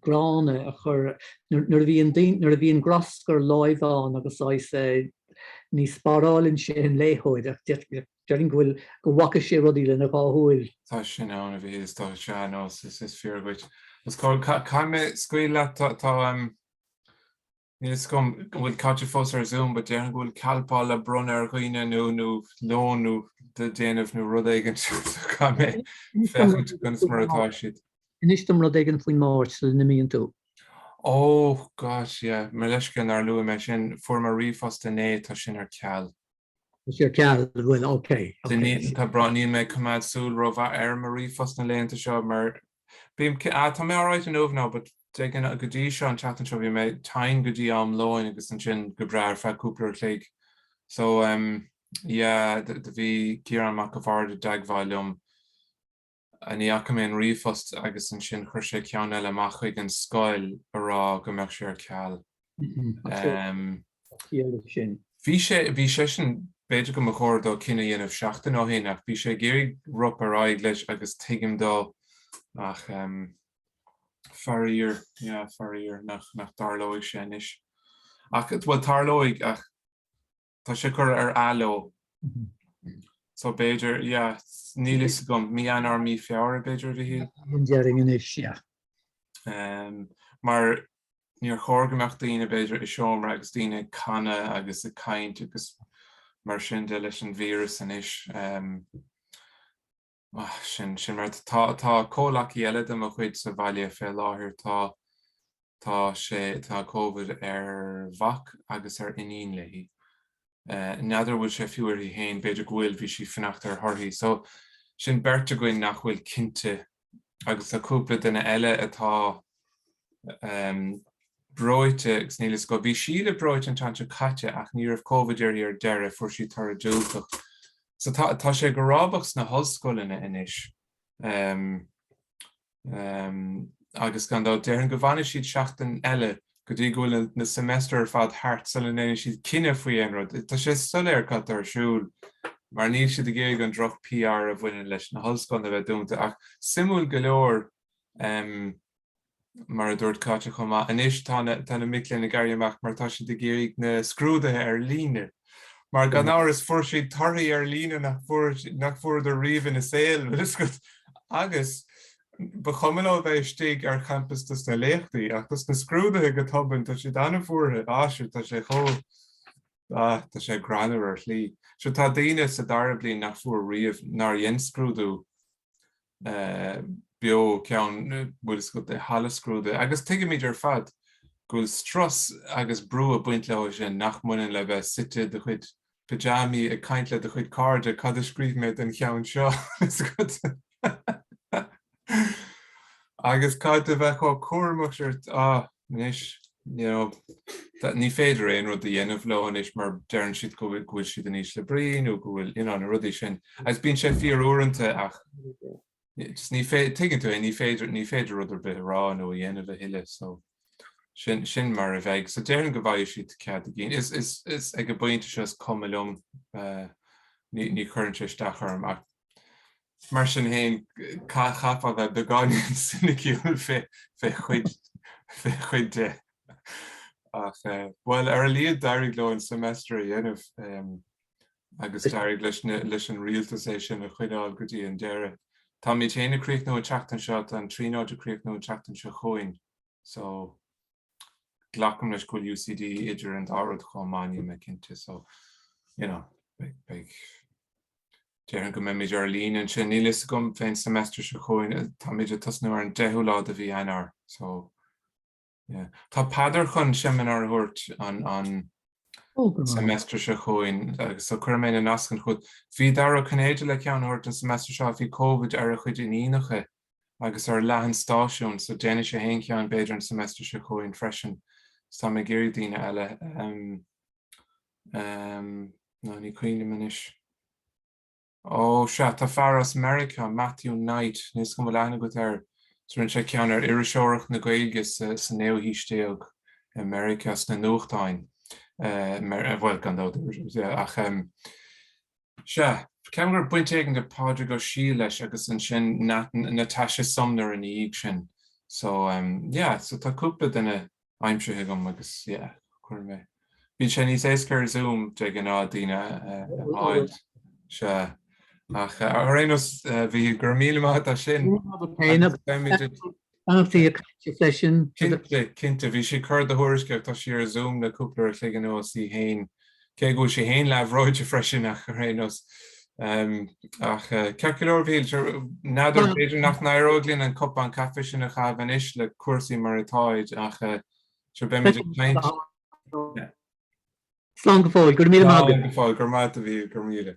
gránna a chur nuair a bhíonn grascar láimhe ann agus ní spáráileann sé an léitheoir ach déarfainn go bhfaca sé rudaí lena dhá shúil. Tá sin an-bhríomhar, tá, sea, no is fíor dhuit. Agus caithfidh mé scaoileadh leat, tá, Níl fhios agam an bhfuil Caití fós ar Zoom, but déarfainn go bhfuil Calpol le bronnadh ar dhaoine nó nó lón le déanamh nó rud éigin so caithfidh mé féachaint conas mar atá siad. Inis dom rud éigin faoin Máirt sula n-imíonn tú. Oh gosh yeah, mo leithscéal nár luaigh mé sin, fuair mé ríomhphost inné, tá sin ar ceal. Tá sé ar ceal, bhuel ok ok. Tá brón orm, níl mé ag coimeád súil rómhaith ar mo ríomhphost na laethanta seo mar Bím, tá mé alright inniu now but de ghnáth, go dtí seo, an tseachtain seo bhí mé tinn go dtí am lóin agus ansin go breá ar feadh cúpla uair a chloig. So ehm yeah, bhí Ciarán Mac an Bhaird i dteagmháil liom, ní fhaca mé an ríomhphost agus ansin chuir sé ceann eile amach chuig an scoil a rá go mbeadh sé ar ceal. Bhí sé sin, b'fhéidir go mba chóir dó cinneadh a dhéanamh seachtain ó shin ach bhí sé ag iarraidh rop ar aghaidh leis agus tuigim dó ach faraor, yeah, faraor nach dtarlóidh sé anois. Ach, bhuel, tarlóidh ach Tá sé curtha ar athló. So b'fhéidir, yeah, níl fhios agam, mí Eanáir, mí Feabhra b'fhéidir, a Mhichíl? An deireadh anois, yeah. Mar níor chóir go mbeadh daoine b'fhéidir i seomra agus daoine ag canadh agus ag caint agus mar sin de leis an víreas anois. Ah, sin, sin mar tá, tá comhleacaí eile de mo chuid sa bhaile fé láthair, tá, tá sé, tá Covid ar mhac agus ar iníon léi. Eh, n'fheadar an bhfuil sé fiú uirthi féin, b'fhéidir go bhfuil, bhí sí ag fanacht ar thorthaí. So, sin beirt againn nach bhfuil cinnte agus tá cúpla duine eile atá, breoite agus níl fhios agat. Bhí Síle breoite an tseachtain seo caite ach ní raibh Covid uirthi ar deireadh, fuair sí toradh diúltach. So tá tá sé go rábach sna hollscoileanna anois ehm ehm agus gan dabht déarfainn go bhfanfaidh siad seachtain eile go dtí go bhfuil na seimeastair ar fad thart sula ndéanfaidh siad cinneadh faoi aon rud. Tá sé soiléir cad atá ar siúl mar níl siad ag iarraidh an droch PR a bhaineann leis na hollscoileanna a bheith dúnta ach suimiúil go leor mar a dúirt Cáit chomh maith. Anois tá na mic léinn ag éirí amach mar tá siad ag iarraidh na scrúduithe ar líne. Mar gan amhras fuair siad torthaí ar líne nach bhfuaireadar riamh ina saol agus ba chuma leo bheith istigh ar champas dos na léachtaí ach dos na scrúduithe go tobann tá siad an-bhuartha. Á sure tá sé chomh ah tá sé greannmhar ar shlí. Sure tá daoine sa dara bliain nach bhfuair riamh nár dhein scrúdú beo cheann bhfuil fhios agat i halla scrúdaithe agus tuigimid ar fad go bhfuil strus agus brú ag baint leo sin nach mbaineann le bheith suite i do chuid pajamaí ag caint le do chuid cairde cad a scríobh mé den cheann seo fhios agat agus gan a bheith chomh cúramach siar ah. anois. Ní féidir aon rud a dhéanamh leo anois mar deireann siad go bhfuil siad in ísle brí nó go bhfuil, you know, na rudaí sin agus bíonn sé fíor uaireanta ach just ní féidir, tuigeann tú é, ní féidir, ní féidir rud ar bith a rá nó a dhéanamh a thuilleadh so sin, sin mar a bheidh. So déarfainn go bhfaighidh siad cead a gcinn. Is, is, is ag an bpointe seo is cuma liom, ní, ní chuireann sé isteach orm ach Mar sin féin, chaithfeá bheith beagáinín soiniciúil fé chuid de? Ach bhuel, ar a laghad d'éirigh leo an seimeastar a dhéanamh agus d'éirigh leis an rialtas é sin a choinneáil go dtí an deireadh. Táimid féin ag críochnú an tseachtain seo, tá an Tríonóid ag críochnú an tseachtain seo chugainn so. Glacaim leis go bhfuil UCD idir an dá rud chomh maith, níl mé cinnte. So, you know, beidh, beidh, déarfainn go mbeimid ar líne ansin. Níl a fhios agam fén semester seo chugainn, táimid ag tosnú ar an deichiú lá de mhí Eanáir. So, yeah. Tá Peadar chun seimineár a thabhairt an, an Oh, go maith. semester seo chugainn, agus so cuirfidh mé na nascanna chugat. Bhí Dara Ó Cinnéide le ceann a thabhairt an semester seo, bhí Covid ar a chuid iníonacha agus ar leath an stáisiúin, so déanfaidh sé fhéin ceann b'fhéidir an seimeastar seo chugainn freisin, is tá mé ag iarraidh daoine eile ná ní cuimhin liom anois. Ó sea, tá fear as Meiriceá, Matthew Knight, níl a fhios agam an bhfuil aithne agat air, so rinne sé ceann ar iriseoireacht na Gaeilge sa naoú haois déag i Meiriceá sna nuachtáin, bhuel gan dabht, ach. Sea, ceapaim go raibh baint éigin ag Pádraig Ó Siadhail leis agus ansin Natasha Sumner ina dhiaidh sin. So, yeah, so tá cúpla duine aimsithe agam agus, yeah, chuir mé, bíonn sé níos éasca ar Zoom de ghnáth daoine a fháil. Sea. Ach ar aon nós, a Mhíchíl, go raibh míle maith agat as sin. Beimid ag. An fíor cainte freisin? Cinnte, cinnte. Bhí sí ag cur do thuairisce ach tá sí ar Zoom le cúpla uair a chloig anuas í fhéin. Cé go bhfuil sí fhéin leathbhreoite freisin ach ar aon nós. Ach ceart go leor, Mhíchíl, sure, n'fheadar, b'fhéidir nach n-éireoidh linn an cupán caife sin a chaitheamh anois le cúrsaí mar atáid ach sure beimid ag caint. Slán go fóill, go raibh míle maith agat. Slán go fóill, go raibh maith agat a Mhíchíl, go raibh míle.